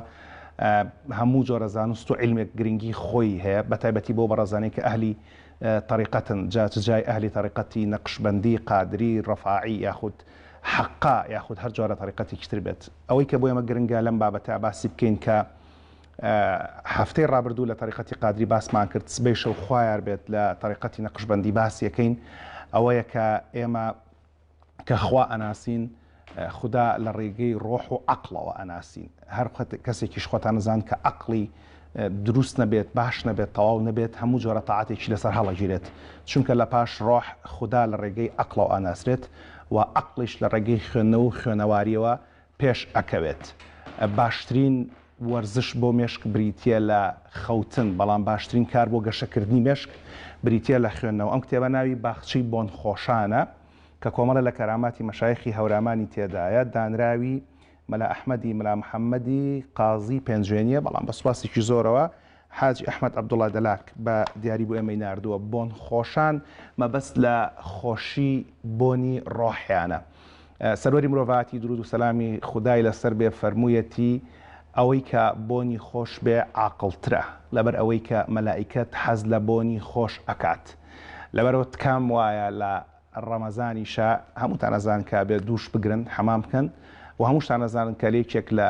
هەموو جۆرە زانست و عیلمێک گرنگی خۆی هەیە، بە تایبەتی بۆ بەڕێزانەی کە ئەهلی تەریقەتن، جا چ جای ئەهلی تەریقەتی نەقشبەندی، قادری، ڕەفاعی یاخود حەقا یاخود هەر جۆرە تەریقەتێکی تر بێت. ئەوەی کە بۆ ئێمە گرنگە لەم بابەتە باسی بکەین کە. هەفتەی ڕابردوو لە تەریقەتی قادری باسمان کرد، سبەیشەو خوایار بێت لە تەریقەتی نەقشبەندی باسی ئەکەین، ئەوەیە کە ئێمە کە خوا ئەناسین خودا لە ڕێگەی ڕۆح و عەقڵەوە ئەناسین، هەر کەسێکیش خۆتان ئەزانن کە عەقڵی دروست نەبێت، باش نەبێت، تەواو نەبێت، هەموو جۆرە تاعەتێکی لەسەر هەڵەگیرێت، چونکە لە پاش ڕۆح خودا لە ڕێگەی عەقڵەوە ئەناسرێت و عەقڵیش لە ڕێگەی خوێندنەوە و خوێنەواریەوە پێش ئەکەوێت. باشترین وەرزش بۆ مێشک بریتیە لە خەوتن، بەڵام باشترین کار بۆ گەشەکردنی مێشک بریتیە لە خوێندنەوە. ئەم کتێبە ناوی باخچەی بۆنخۆشانە کە کۆمەڵە لە کەراماتی مەشایخی هەورامانی تێدایە، دانراوی مەلا ئەحمەدی ملا محەمەدی قازی پێنجوێنیە، بەڵام بە سوپاسێکی زۆرەوە حاجی ئەحمەد عەبدوڵا دەلاک بە دیاری بۆ ئێمەی ناردووە، بۆن خۆشان مەبەست لە خۆشی بۆنی ڕۆحیانە. سەروەری مرۆڤایەتی دروود و سەلامی خودای لەسەر بێ فەرموویەتی، ئەوەی کە بۆنی خۆش بێ عاقڵترە لەبەر ئەوەی کە مەلائیکەت حەز لە بۆنی خۆش ئەکات. لەبەرەوە تکام وایە لە ڕەمەزانیشا هەمووتان ئەزان کە بێ دووش بگرن حەمام بکەن و هەمووشتان ئەزانن کە لە یەکێک لە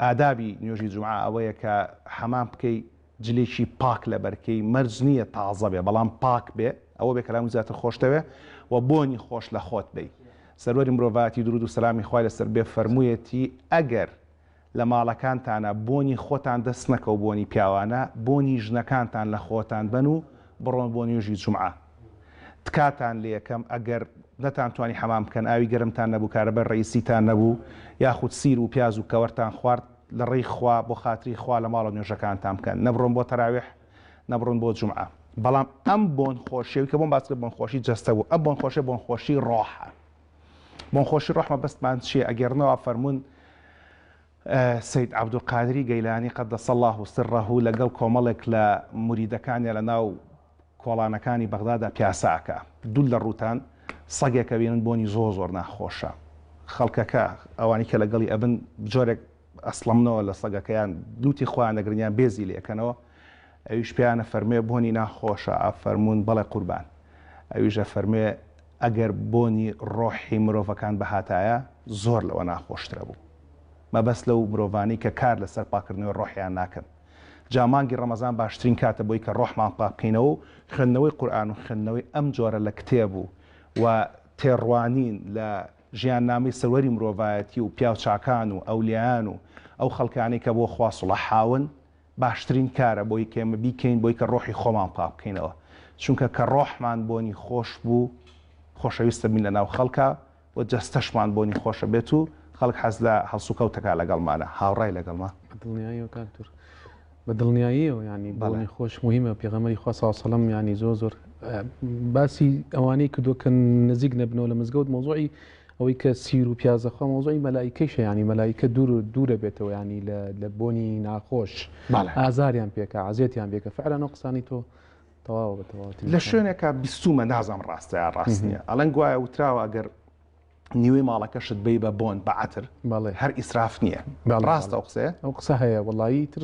ئادابی نوێژی جومعە ئەوەیە کە حەمام بکەی جلێکی پاک لەبەرکەی، مەرج نییە تازە بێ بەڵام پاک بێ ئەوە بێ کە لەهەمووی زیاتر خۆشتەوێ و بۆنی خۆش لە خۆت بەی. سەروەری مرۆڤایەتی دروود و سەلامی خوای لەسەر بێ فەرموویەتی، ئەگەر لە ماڵەکانتانا بۆنی خۆتان دەست نەکەو بۆنی پیاوانە بۆنی ژنەکانتان لە خۆتان بەن و بڕۆن بۆ نوێژی جومعە. تکاتان لێەکەم ئەگەر نەتان توانی حەمام بکەن ئاوی گەرمتان نەبوو کارەبای ڕەئیسیتان نەبوو یاخود سیر وپیاز و کەوەرتان خوارد لەڕێی خوا بۆخاتری خوا لەماڵەوە نوێژەکانتان بکەن نەبڕۆن بۆ تەراویح نەبڕۆن بۆ جومعە بەڵام ئەم بۆن خۆشیەوی کە بۆم باسکرد بۆن خۆشی جەستە بوو ئەم بۆن خۆشیە بۆن خۆشی ڕۆحە بۆن خۆشی ڕۆح مەبەستمان چیە ئەگێڕنەوە فەرموون سەید عەبدولقادری گەیلانی قدس اللە سرە لەگەڵ کۆمەڵێک لە موریدەکانیا لە ناو کۆڵانەکانی بەغدادا پیاسە ئەکا دوور لە ڕووتان سەگێک ئەبینن بۆنی زۆر زۆر ناخۆشە خەڵکەکە ئەوانی کە لەگەڵی ئەبن جۆرێک ئەسڵەمنەوە لە سەگەکەیان لوتی خۆیان ئەگرن یان بێزی لێ ئەکەنەوە ئەویش پێیان ئەفەرموێ بۆنی ناخۆشە ئەفەرموون بەڵێ قوربان ئەویش ئەفەرموێ ئەگەر بۆنی ڕۆحی مرۆڤەکان بهاتایە زۆر لەوە ناخۆشترە بوو. مەبەست لەو مرۆڤانەی کە کار لەسەر پاککردنەوەی ڕۆحیان ناکەن. جا مانگی ڕەمەزان باشترین کاتە بۆی کە ڕۆحمان پاک بکەینەوە و خوێندنەوەی قورئان و خوێندنەوەی ئەم جۆرە لە کتێب و و تێڕوانین لە ژیاننامەی سەروەری مرۆڤایەتی و پیاوچاکان و ئەولیایان و ئەو خەڵکانەی کە بۆ خوا سڵەحاون باشترین کارە بۆی کە ئێمە بیکەین بۆی کە ڕۆحی خۆمان پاک بکەینەوە چونکە کە ڕۆحمان بۆنی خۆش بوو خۆشەویستربین لەناو خەڵکا و جەستەشمان بۆنی خۆشە بێت و خەڵک حەز لە هەڵسوکەوتەکە لەگەڵمانە هاوڕای لەگەڵمە. بە دڵنیاییەوە کاک دور. بە دڵنیاییەوە یانی بۆنی خۆش موهیمە پێغەمبەری خوا سڵاو سەلەم یانی زۆر زۆر باسی ئەوانەی کردوە کە نزیک نەبنەوە لە مزگەوت مۆزوعی ئەوەی کە سیر و پیازەخوا مۆزوعی مەلایکەیشە ینی مەلایکە دوور و دوورە بێتەوە ینی لە بۆنی ناخۆش ئازاریان پێکە عزیێتیان بێکە فعلەن و قسانی تۆ تەواوە بە تەواوەتی لە شوێنێکا بیستومە نازام ڕاستە یا ڕاست نییە ئەڵەن گوایە وتراوە ئەگەر نیوەی ماڵەکەشت بی بە بۆن بە عتر بەڵێ هەر ئیسراف نییە ڕاستە ئەو قسەیە ئەو قسە هەیە وڵایی تر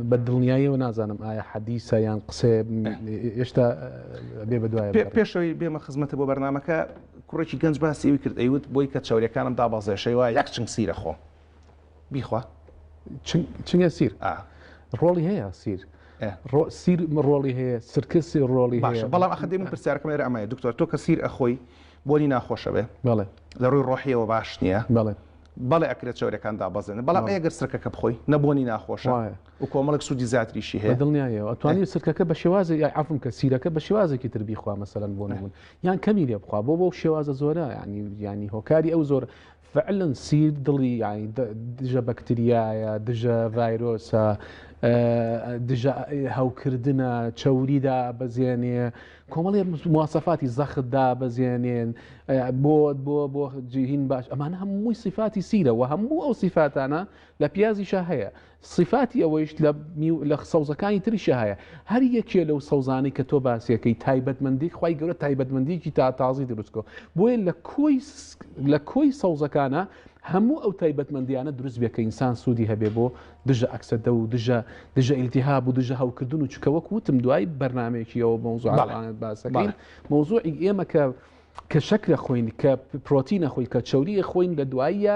بە دڵنیاییەوە نازانم ئایا حەدیسە یان قسێ ئێشتا بێ بەدوای پێشەوەی بێمە خزمەتە بۆ بەرنمەکە کوڕێکی گەنج باسی ئەوی کرد ئەیوت بۆی کە چاوریەکانم دابازێشەی وە یەک چنگ سیرە خۆم بیخوا چنگە سیر ڕۆڵی هەیە سیر سیر ڕۆڵی هەیە سرکە سێ ڕۆڵی باشە بەڵام ئەخ دێمە پرسیارکەم لێرە ئەمایە دکتۆر تۆ کە سیر ئەخۆی بۆنی ناخۆشە بێ بەڵێ لە ڕووی ڕۆحیەوە باش نییە بەڵێ بەڵێ ئەکرێت چاورەکان دابەزێنن بەڵام ئەگەر سرکەکە بخۆی نەبوونی ناخۆشە و کۆمەڵک سوودی زیاتریشی هەیە دڵنیایەوە توانی سرکەکە بە شێوازی یاعافم کە سیرەکە بە شێوازێکی تر بیخوا مەسەرەن بۆ نبوون یان کەمی لێ بخوا بۆ بۆ شێوازە زۆرە ینی ینی هۆکاری ئەو زۆر فعلا سیر دڵی یانی دژە بەکتریایە دژە ڤایرۆسە دژە هەوکردنە چەوری دابەزێنێ کۆمەڵێ موواسەفاتی زەخت دابەزێنێن بۆ بۆ بۆ جیهین باش ئەمان هەمووی سیفاتی سیرەوە هەموو ئەو سیفاتانە لە پیازیشە هەیە سیفاتی ئەوەیشت لە میو لە سەوزەکانی تریشە هەیە هەر یەکێ لەو سەوزانەی کە تۆ باسیەکەی تایبەتمەندی خوای گەورە تایبەتمەندیکی تا تازی دروستکۆ بۆیە لە کۆی لە کۆی سەوزەکانە هەموو ئەو تایبەتمەندیانە دروست بێ کە ئینسان سوودی هەبێ بۆ دژە ئەکسەدە و دژە دژە ئیلتیهاب و دژە هەوکردن و چکەوەک وتم دوای بەرنمەیەکیەوە مەوزوعانت باسەکەین مەوزوعی ئێمە کە کە شەکرە خۆین کە پرۆتینە خۆی کە چوریە خۆین لە دواییە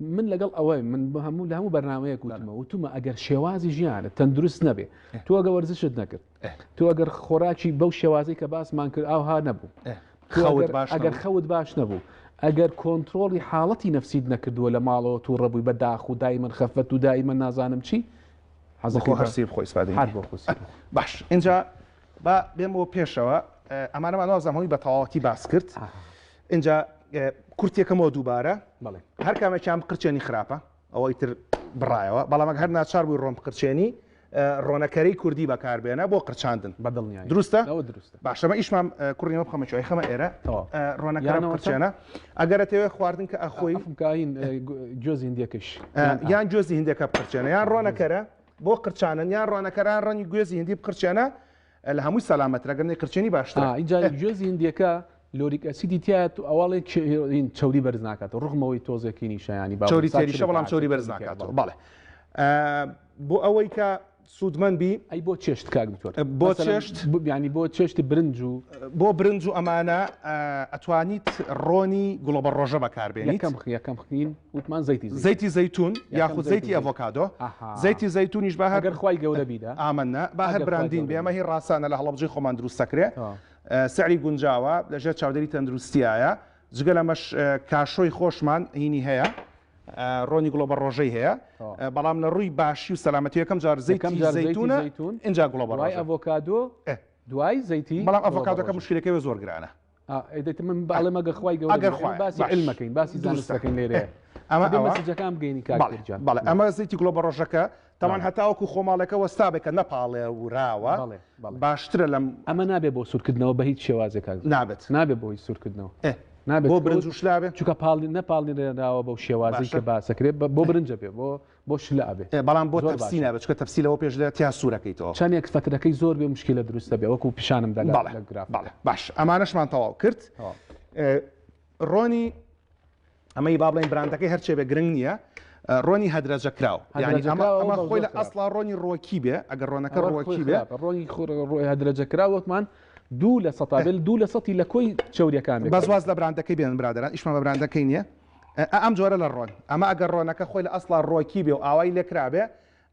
من لەگەڵ ئەوەی من بە هەموو لە هەموو بەرنمەیەک وتمە وتمە ئەگەر شێوازی ژیانە تەندروست نەبێ تۆ ئەگە وەرزشت نەکرد تۆ ئەگەر خۆراکی بەو شێوازی کە باسمان کرد ئاها نەبوو ئەگەر خەوت باش نەبوو ئەگەر کۆنتترۆلی حاڵەتی نفسید نەکردووە لە ماڵەوە تو ڕەبووی بە داخ و دای من خەفەت و دای من نازانم چی حەزەکە هەرسی خۆی باش اینجا با بێمەوە پێشەوە ئەمانەمان وازەمەوەی بە تەواوەتی باس کرد. ئینجا کورتێ کەمەوە دووبارە بەڵێ هەر کامێکیان بقرچێنی خراپە ئەوە ئیتر بڕایەوە بەڵام ئەگە هەر ناچار بووی ڕۆن بقرچێنی ڕۆنەکەری کوردی بەکاربێنە بۆ قرچاندن بەدڵنیای دروستە ئەوە دروستە باشەمە ئیشمان کوڕیمە بخەمە چۆی خەمە ئێرە تەواو ڕۆنەکەیان یانەوە قرچێنە ئەگەرە تەوێ خواردن کە ئەخۆی ئەفمکین جۆزی هندیەکەش یان جۆزی هندەکە بقرچێنە یان ڕۆنەکەرە بۆ قرچانن یان ڕۆنەکەران ڕەنی گوێزی هندی بقرچێنە ئە لە هەمووی سەلامە ترە گەر نەیقرچێنی باشترە. ئا ئینجا گوێزی هندیەکە لۆریک ئەسیدی تیایە تو ئەوەڵێ چ ین چەوری بەرز ناکاتەوە ڕغمەوەی تۆزێ کینیشە یانی با چەوری تێریشە بەڵام چەوری بەرز ناکاتەوە بەڵێ ئە بۆ ئەوەی کە سوودمەند بی ئەی بۆ چێشت کاک دکتۆر ئە بۆ چێشت یانی بۆ چێشتی برنج و بۆ برنج و ئەمانە ئە ئەتوانیت ڕۆنی گوڵەبەڕۆژە بەکاربێنیت یەکەم خ یەکەم خین. وتمان زەیتی زەیتون زەیتی زەیتون یاخود زەیتی ئەڤۆکادۆ زەیتی زەیتونیش بە هەر خوای گەورە بیدە ئامنە با هەر براندین بێمە هی ڕاستانە لە هەڵەبجەی خۆمان دروست دەکرێ سعری گونجاوە لەژێر چاودێری تەندروستیایە جگە لەمەش کاشۆی خۆشمان هینی هەیە ڕۆنی گوڵە بە ڕۆژەی هەیە بەڵام لە ڕووی باشی و سەلامەتی یەکەم جار زەیتەکەم جار زەیتونە ئینجا گوڵە بەڕای ئەڤۆکادۆ دوای زەیتی بەڵام ئەڤۆکادەکە مشکلەکەی زۆر گرانە ئەمە زیتی گوڵە بەڕۆژەکە تاوان هەتاوەکو خۆماڵەکە وەستابێکە نەپاڵێ وراوە باشترە لەم ئەمە نابێ بۆ سوورکردنەوە بە هیچ شێوازێک نابێت نابێت بۆی سوورکردنەوە نابێت بۆ برنجشلابێت چکە پاڵی نەپاڵنراوە بەو شێوازی کە باسەکرێت بۆ برنجە بێ بۆ بۆ شلە ئەبێ ئێ بەڵام بۆ زۆر تەپسی باشە. نابێت چونکە تەپسی لەوە پێش لە تیا سوور ئەکەیتەوە. چەنێک فترەکەی زۆر بێ موشکیلە دروست دەبێ وەکو پیشانم دا لە بەڵێ لە گرافەکە. بەڵێ باش ئەمانەشمان تەواو کرد تەواو. ئێ، ڕۆنی ئەمەی با بڵێین براندەکەی هەرچێ بێ گرنگ نییە ئە، ڕۆنی هەدرەجەکراو یانی ئەمە هەدرەجەکراوە ئەمە بەڵام خۆی زۆر لە خراپ. ئەسڵا ڕۆنی ڕۆکی بێ ئەگەر ڕۆنەکە ڕۆ خۆی ڕۆکی بێ خراپە ڕۆنی خۆ ڕۆ ڕۆ هەدرەجە کرا وەکمان دوو لە سەتا بێ دوو لە سەتی لە کۆی چەوریەکان بێ بەس واز لە براندەکەی بێنن برادەران ئیشمان بە براندەکەی نییە. ئە ئەم جۆرە لە ڕۆن ئەمە ئەگەر ڕۆنەکە خۆی لە ئەسڵا ڕۆکی بێ و ئاوای لێکرابێ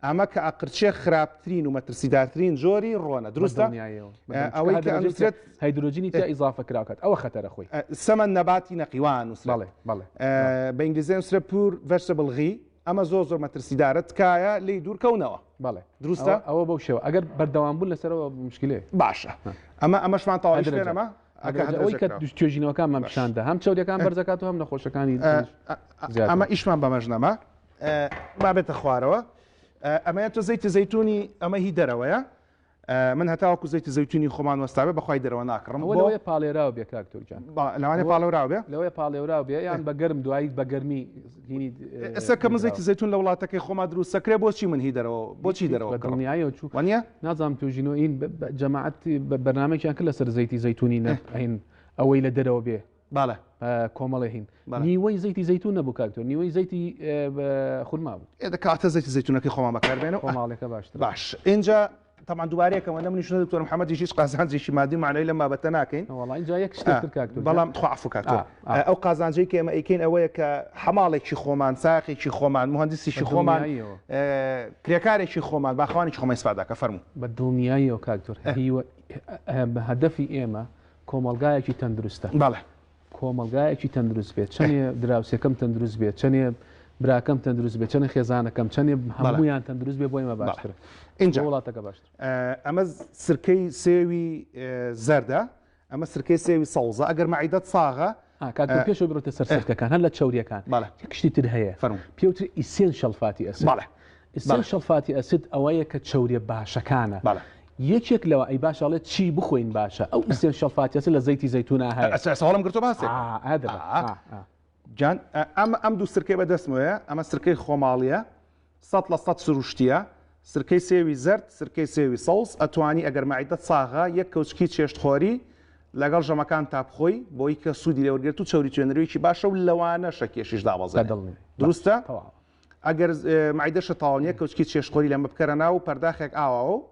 ئەمە کە ئەقرچێ خراپترین و مەترسیدارترین جۆری ڕۆنە بە دروستە دڵنیایەوە بە ئە دڵنیا ئەوەی کە هەدرۆجین تیا ئەنوسرێت هەیدرۆجینی تیا ئیزافە کراو کات ئەوە خەتەرە خۆی ئە سمن نەباتی نەقی وا ئەنوسرێت بەڵێ بەڵێ ئە بەڵێ بە ئینگلیزی ئەنوسرێت پور ڤێژتەبڵ غی ئەمە زۆر زۆر مەترسیدارە تکایە لێی دوور کەونەوە بەڵێ ئەوە دروستە؟ ئەوە بەو شێوە ئەگەر بەردەوام بوون لەسەرەوە موشکیلەیە باشە ها ئەمە ئەمەشمان تەواوی شوێنە هەدرەجە. مە؟ ئەگەر ئەوەی کە توێژینەوەکانمان پیشان دا هەم چەوریەکان بەرز دەکات و هەم نەخۆشەکانی تریش ئەمە ئیشمان بەمەش نەما با بێتە خوارەوە ئەمەیە تۆ زەیتی زەیتونی ئەمە هی دەرەوەیە من هەتاوەکو زەیتی زەیتونی خۆمان وەستاوێ بەخوای دەرەوە ناکڕم لەوەیە پاڵێراو بێ کاک تورکیان لەوانێ پاڵێوراو بێ لەوەیە پاڵێوراو بێ یان بە گەرم دوایی بە گەرمی ئێستا کە مزێکی زەیتون لە وڵاتەکەی خۆما دروست سەکرێ بۆچی من هی دەرەوە بۆچی دەرەوە دڵنیایەوە چوو وانە نازانم توژینۆ این جەماعەت بەرنمێکیان کرد لەسەر زەیتی زەیتونی نەین ئەوەی لە دەرەوە بێ باە کۆمەڵی هین نیوەی زەیتی زەیتون نەبوو کاکتۆ نیوەی زەیتی خورما بوو ئێدە کاتە زەیتی زەیتونەکەی خۆمان بەکاربێن و خۆماڵێکە باش باش اینجا تەبعەن دوبارەی ئەکەمەوە نە منیش نە دکتۆر محمدیش هیچ قازانجێکی مادی و مەعنەوی لەم بابەتە ناکەین وەڵا ئینجا یەک شتێک تر کاک دکتۆر بەڵام تخوا عەفو کاک تۆ ئەو قازانجەی کە ئێمە ئەیکەین ئەوەیە کە حەماڵێکی خۆمان ساقێکی خۆمان مهندسیشی خۆمان کرێکارێکی خۆمان باخوانێکی خۆمان ئیسفادا کە فەرموو بە دڵنیاییەوە کاک دکتۆر هیوە هەدەفی ئێمە کۆمەڵگایەکی تەندروستە بەڵێ کۆمەڵگایەکی تەندروست بێت چەنێ دراوسێکەم تەندروست بێت چەنێ براکەم تەندروست بێت چەنێ خێزانەکەم چەنێ هەمویان تەندروست بێ بۆی مە باشتر اینجا وڵاتەکە باشتر ئەمە سرکەی سێوی زەردە ئەمە سرکەی سێوی سەوزە ئەگەر مەعیدەت ساغە پێش بڕێتە سەر سەرکەکان هەر لە چوریەکان کشتی تر هەیە پێوتر ئیسێن شەلفاتی ئەس ئیسنشەڵ فاتی ئەسید ئەوەیە کە چەوریە باشەکانە بەڵێ یەکێک لەوە ئەی باشە ئەڵێت چی بخۆین باشە ئەو ئیسنشەڵ فاتی ئەسید لە زەیتی زەیتونا هەیە ئەسا ئێستا هەڵم گرتووە باسێ ئا ئا دەبە ئا ئا جان ئەم ئەم دوو سرکەی بە دەستمەوەیە ئەمە سرکەی خۆماڵییە سەد لە سەد سروشتییە سرکەی سێوی زەرد سرکەی سێوی سەوز ئەتوانی ئەگەر مەعیدەت ساغە یەک کەوچکی چێشتخۆری لەگەڵ ژەمەکان تا بخۆی بۆی کە سوودی لێوەرگێت و چەوری توێنەرێکی باشە و لەوانەشە کێشیش دابەزێت دڵنی دروستە؟ تەواوە ئەگەر معیدە شەتاوانیە کەوچکی چێشخۆری لەمە بکەرە ناو پەرداخێک ئاواوە و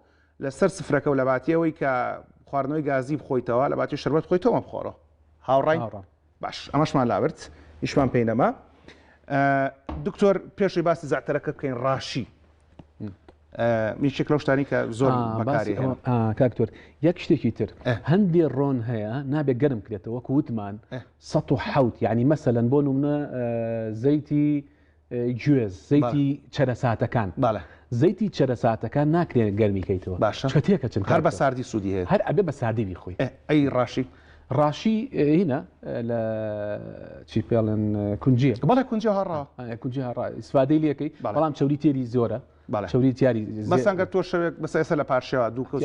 لەسەر سفرەکە و لە باتیەوەی کە خواردنەوەی گازی بخۆیتەوە لە باتی شربەت خۆی تۆمە بخۆڕە هاوڕای باش ئەمەشمان لابرد هیچمان پێی نەما دکتۆر پێشی باسی زیاترەکە بکەین ڕاشی میشک لەو شتانی کە زۆر کاکتۆر یەک شتێکی تر هەندێ ڕۆن هەیە نابێت گەرم کرێتەوە کووتمان سەد و حەوت یانی مەسەلەن بۆ نمونە زەیتی گوێز زەیتی چەرەساتەکان باە زەیتی چەرەساتەکان ناکرێن گەرمی کەیتەوە باشە چە تێکە چن هەر بە ساردی سوودی هەیە هەر ئەبێ بە ساردی بیخۆی ئەی ڕاشی ڕاشی هینە لە چی پێڵێن کونجیە بەڵێ کونجی هەڕا کونجی هەڕا ئیسفادەی لەکەی بەڵام چوری تێری زۆرە بەڵێ چەوری تیاری مەسەن گەر تۆ شەوێک بەسە ئێستا لە پارشێوە دوو کەوچ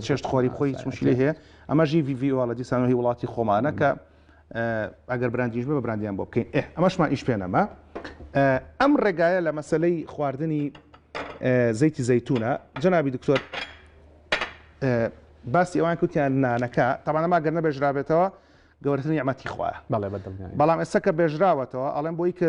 چێشت خۆری خۆی هیچ مشکلی هەیە ئەمە ژی وی وی وڵە دیسان هی وڵاتی خۆمانە کە ئەگەر براندیش بە براندیان بۆ بکەین ئێ ئەمەشمان ئیش پێ نەما ئەم ڕێگایە لە مەسلەی خواردنی زەیتی زەیتونە جەنابی دکتۆر باسی ئەوان کوتیان نانەکە تەمانەما گەر نەبێژرابێتەوە گەورەترین یامەتی خوایە بەڵێ بەڵام ئێستا کە بێژراوەتەوە ئەڵێن بۆی کە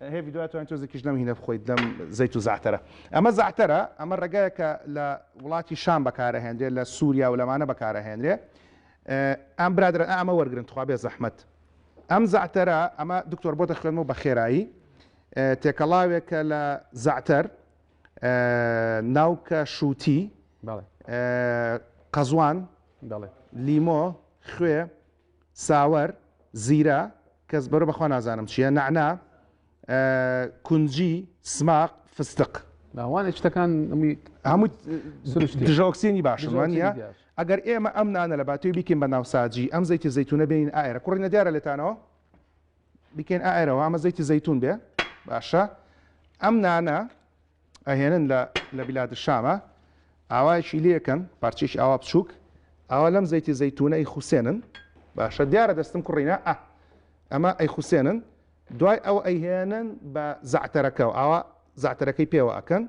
هەی ڤیدۆیا توانی تۆزێکیش لەم هینە بخۆیت لەم زەیت و زەعتەرە ئەمە زەعتەرە ئەمە ڕێگایەکە لە وڵاتی شام بەکارەهێنرێ لە سوریا و لەمانە بەکارەهێنرێ ئەم برادەرە ئەمە وەرگرن تخوا بێ زەحمەت ئەم زەعتەرە ئەمە دکتۆر بۆ دەخوێنمەوە بە خێرایی تێکەڵاوێکە لە زەعتەر ناوکە شووتی قەزوان لیمۆ خوێ ساوەر، زیرە، کەس بەرۆ بەخوا نازانم چیە، نەعنا، کونجی، سماق، فستق. نا وانە شتەکان هەمووی هەمووی سروشتی دژە ئۆکسیجنی باشن دژە وانیە؟ ئۆکسیدی داشت. ئەگەر ئێمە ئەم نانە لە باتێوی بیکەین بە ناوساجی ئەم زەیتی زەیتونە بێنین ئائەرە کوڕینە دیارە لێتانەوە؟ بیکەین ئائەرەوە ئەمە زەیتی زەیتون بێ باشە ئەم نانە ئەهێنن لە لە بلاد شامە ئاوایەکی لێکەن پارچێکی ئاوا بچووک ئاوا لەم زەیتی زەیتونە ئەی خوسێنن باشە دیارە دەستم کوڕینە ئە ئەمە ئەی خوسێنن دوای ئەو ئەیهێنن بە زعتەرەکە و ئاوا زعتەرەکەی پێوە ئەکەن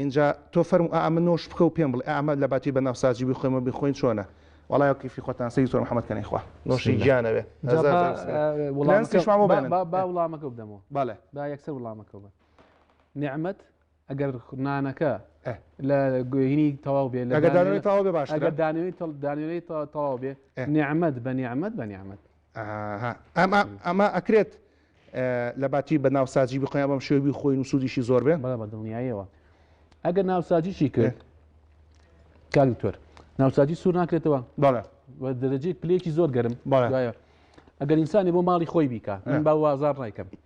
اینجا تۆ فەرم ئەمە نۆش بکە و پێم بڵێ ئەمە لە باتی بە ناوسازی بخۆێمە بخۆین چۆنە وڵای کیفی خۆتان سی زۆر محەممەد کەنی خوا نۆشی گیانەوێ وڵامەکە بدەمەوە باە با یەکسەر وڵامەکە بە نعمەت ئەگەر نانەکە لە گوێهینی تەواو بێ لە دانەوەی تەواو بێ باش ئەگەر دانەوەی دانەوەی تەواو بێ نعممەد بە نیعممەد بە نیعممەد ئەمە ئەمە ئەکرێت لە باتی بە ناوساجی بخۆیان بەم شێوی خۆی و سوودیشی زۆر بێ بەڵە بە دڵنیایەوە ئەگەر ناوساجیشی کرد کاکتۆر ناوساجی سوور ناکرێتەوە بەڵە دەرەجەی پلێکی زۆر گەرم بەڵایە ئەگەر ئینسانی بۆ ماڵی خۆی بیکە من با وازار ڕایکەم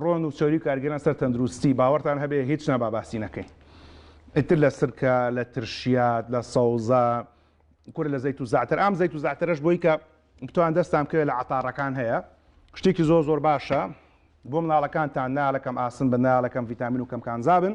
ڕۆن و چەوری کارگەران سەر تەندروستی باوەڕتان هەبێ هیچ نابا باسی نەکەین ئیتر لە سرکە لە ترشیات لە سەوزە کورە لە زەیت و زعتر ئام زەیت و زعترەش بۆی کە بتوان دەستان بکەوێت لە عتاڕەکان هەیە شتێکی زۆر زۆر باشە بۆ مناڵەکانتان نالەکەم ئاسن بە نالەکەم ڤیتامین و کەم کانزابن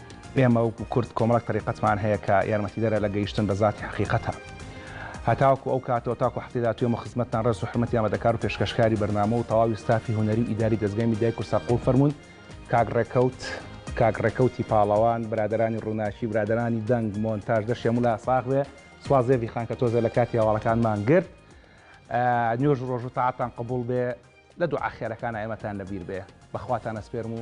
ئێمە وەکو کورد کۆمەڵێک تەریقەتمان هەیە کە یارمەتیدەرە لە گەیشتن بە زاتی حەقیقەتا. هەتاوەکو ئەو کاتەوە تاکو هەفتەی داهاتوو ئێمە خزمەتتان ڕێز و حورمەتی ئامادەکار و پێشکەشکاری بەرنامە و تەواوی ستافی هونەری و ئیداری دەزگای میدیای کوردسات قبوڵ فەرموون کاک ڕێکەوت کاک ڕێکەوتی پاڵەوان برادەرانی ڕووناکی برادەرانی دەنگ مۆنتاژ دەشێ مولا ساغ بێ سواز زێڤی خان کە تۆزێ لە کاتی هەواڵەکانمان گرت نوێژ ڕۆژ و تاعەتان قبوڵ بێ لە دوعا خێرەکانە ئێمەتان لەبیر بێ بەخواتان ئەسپێرم و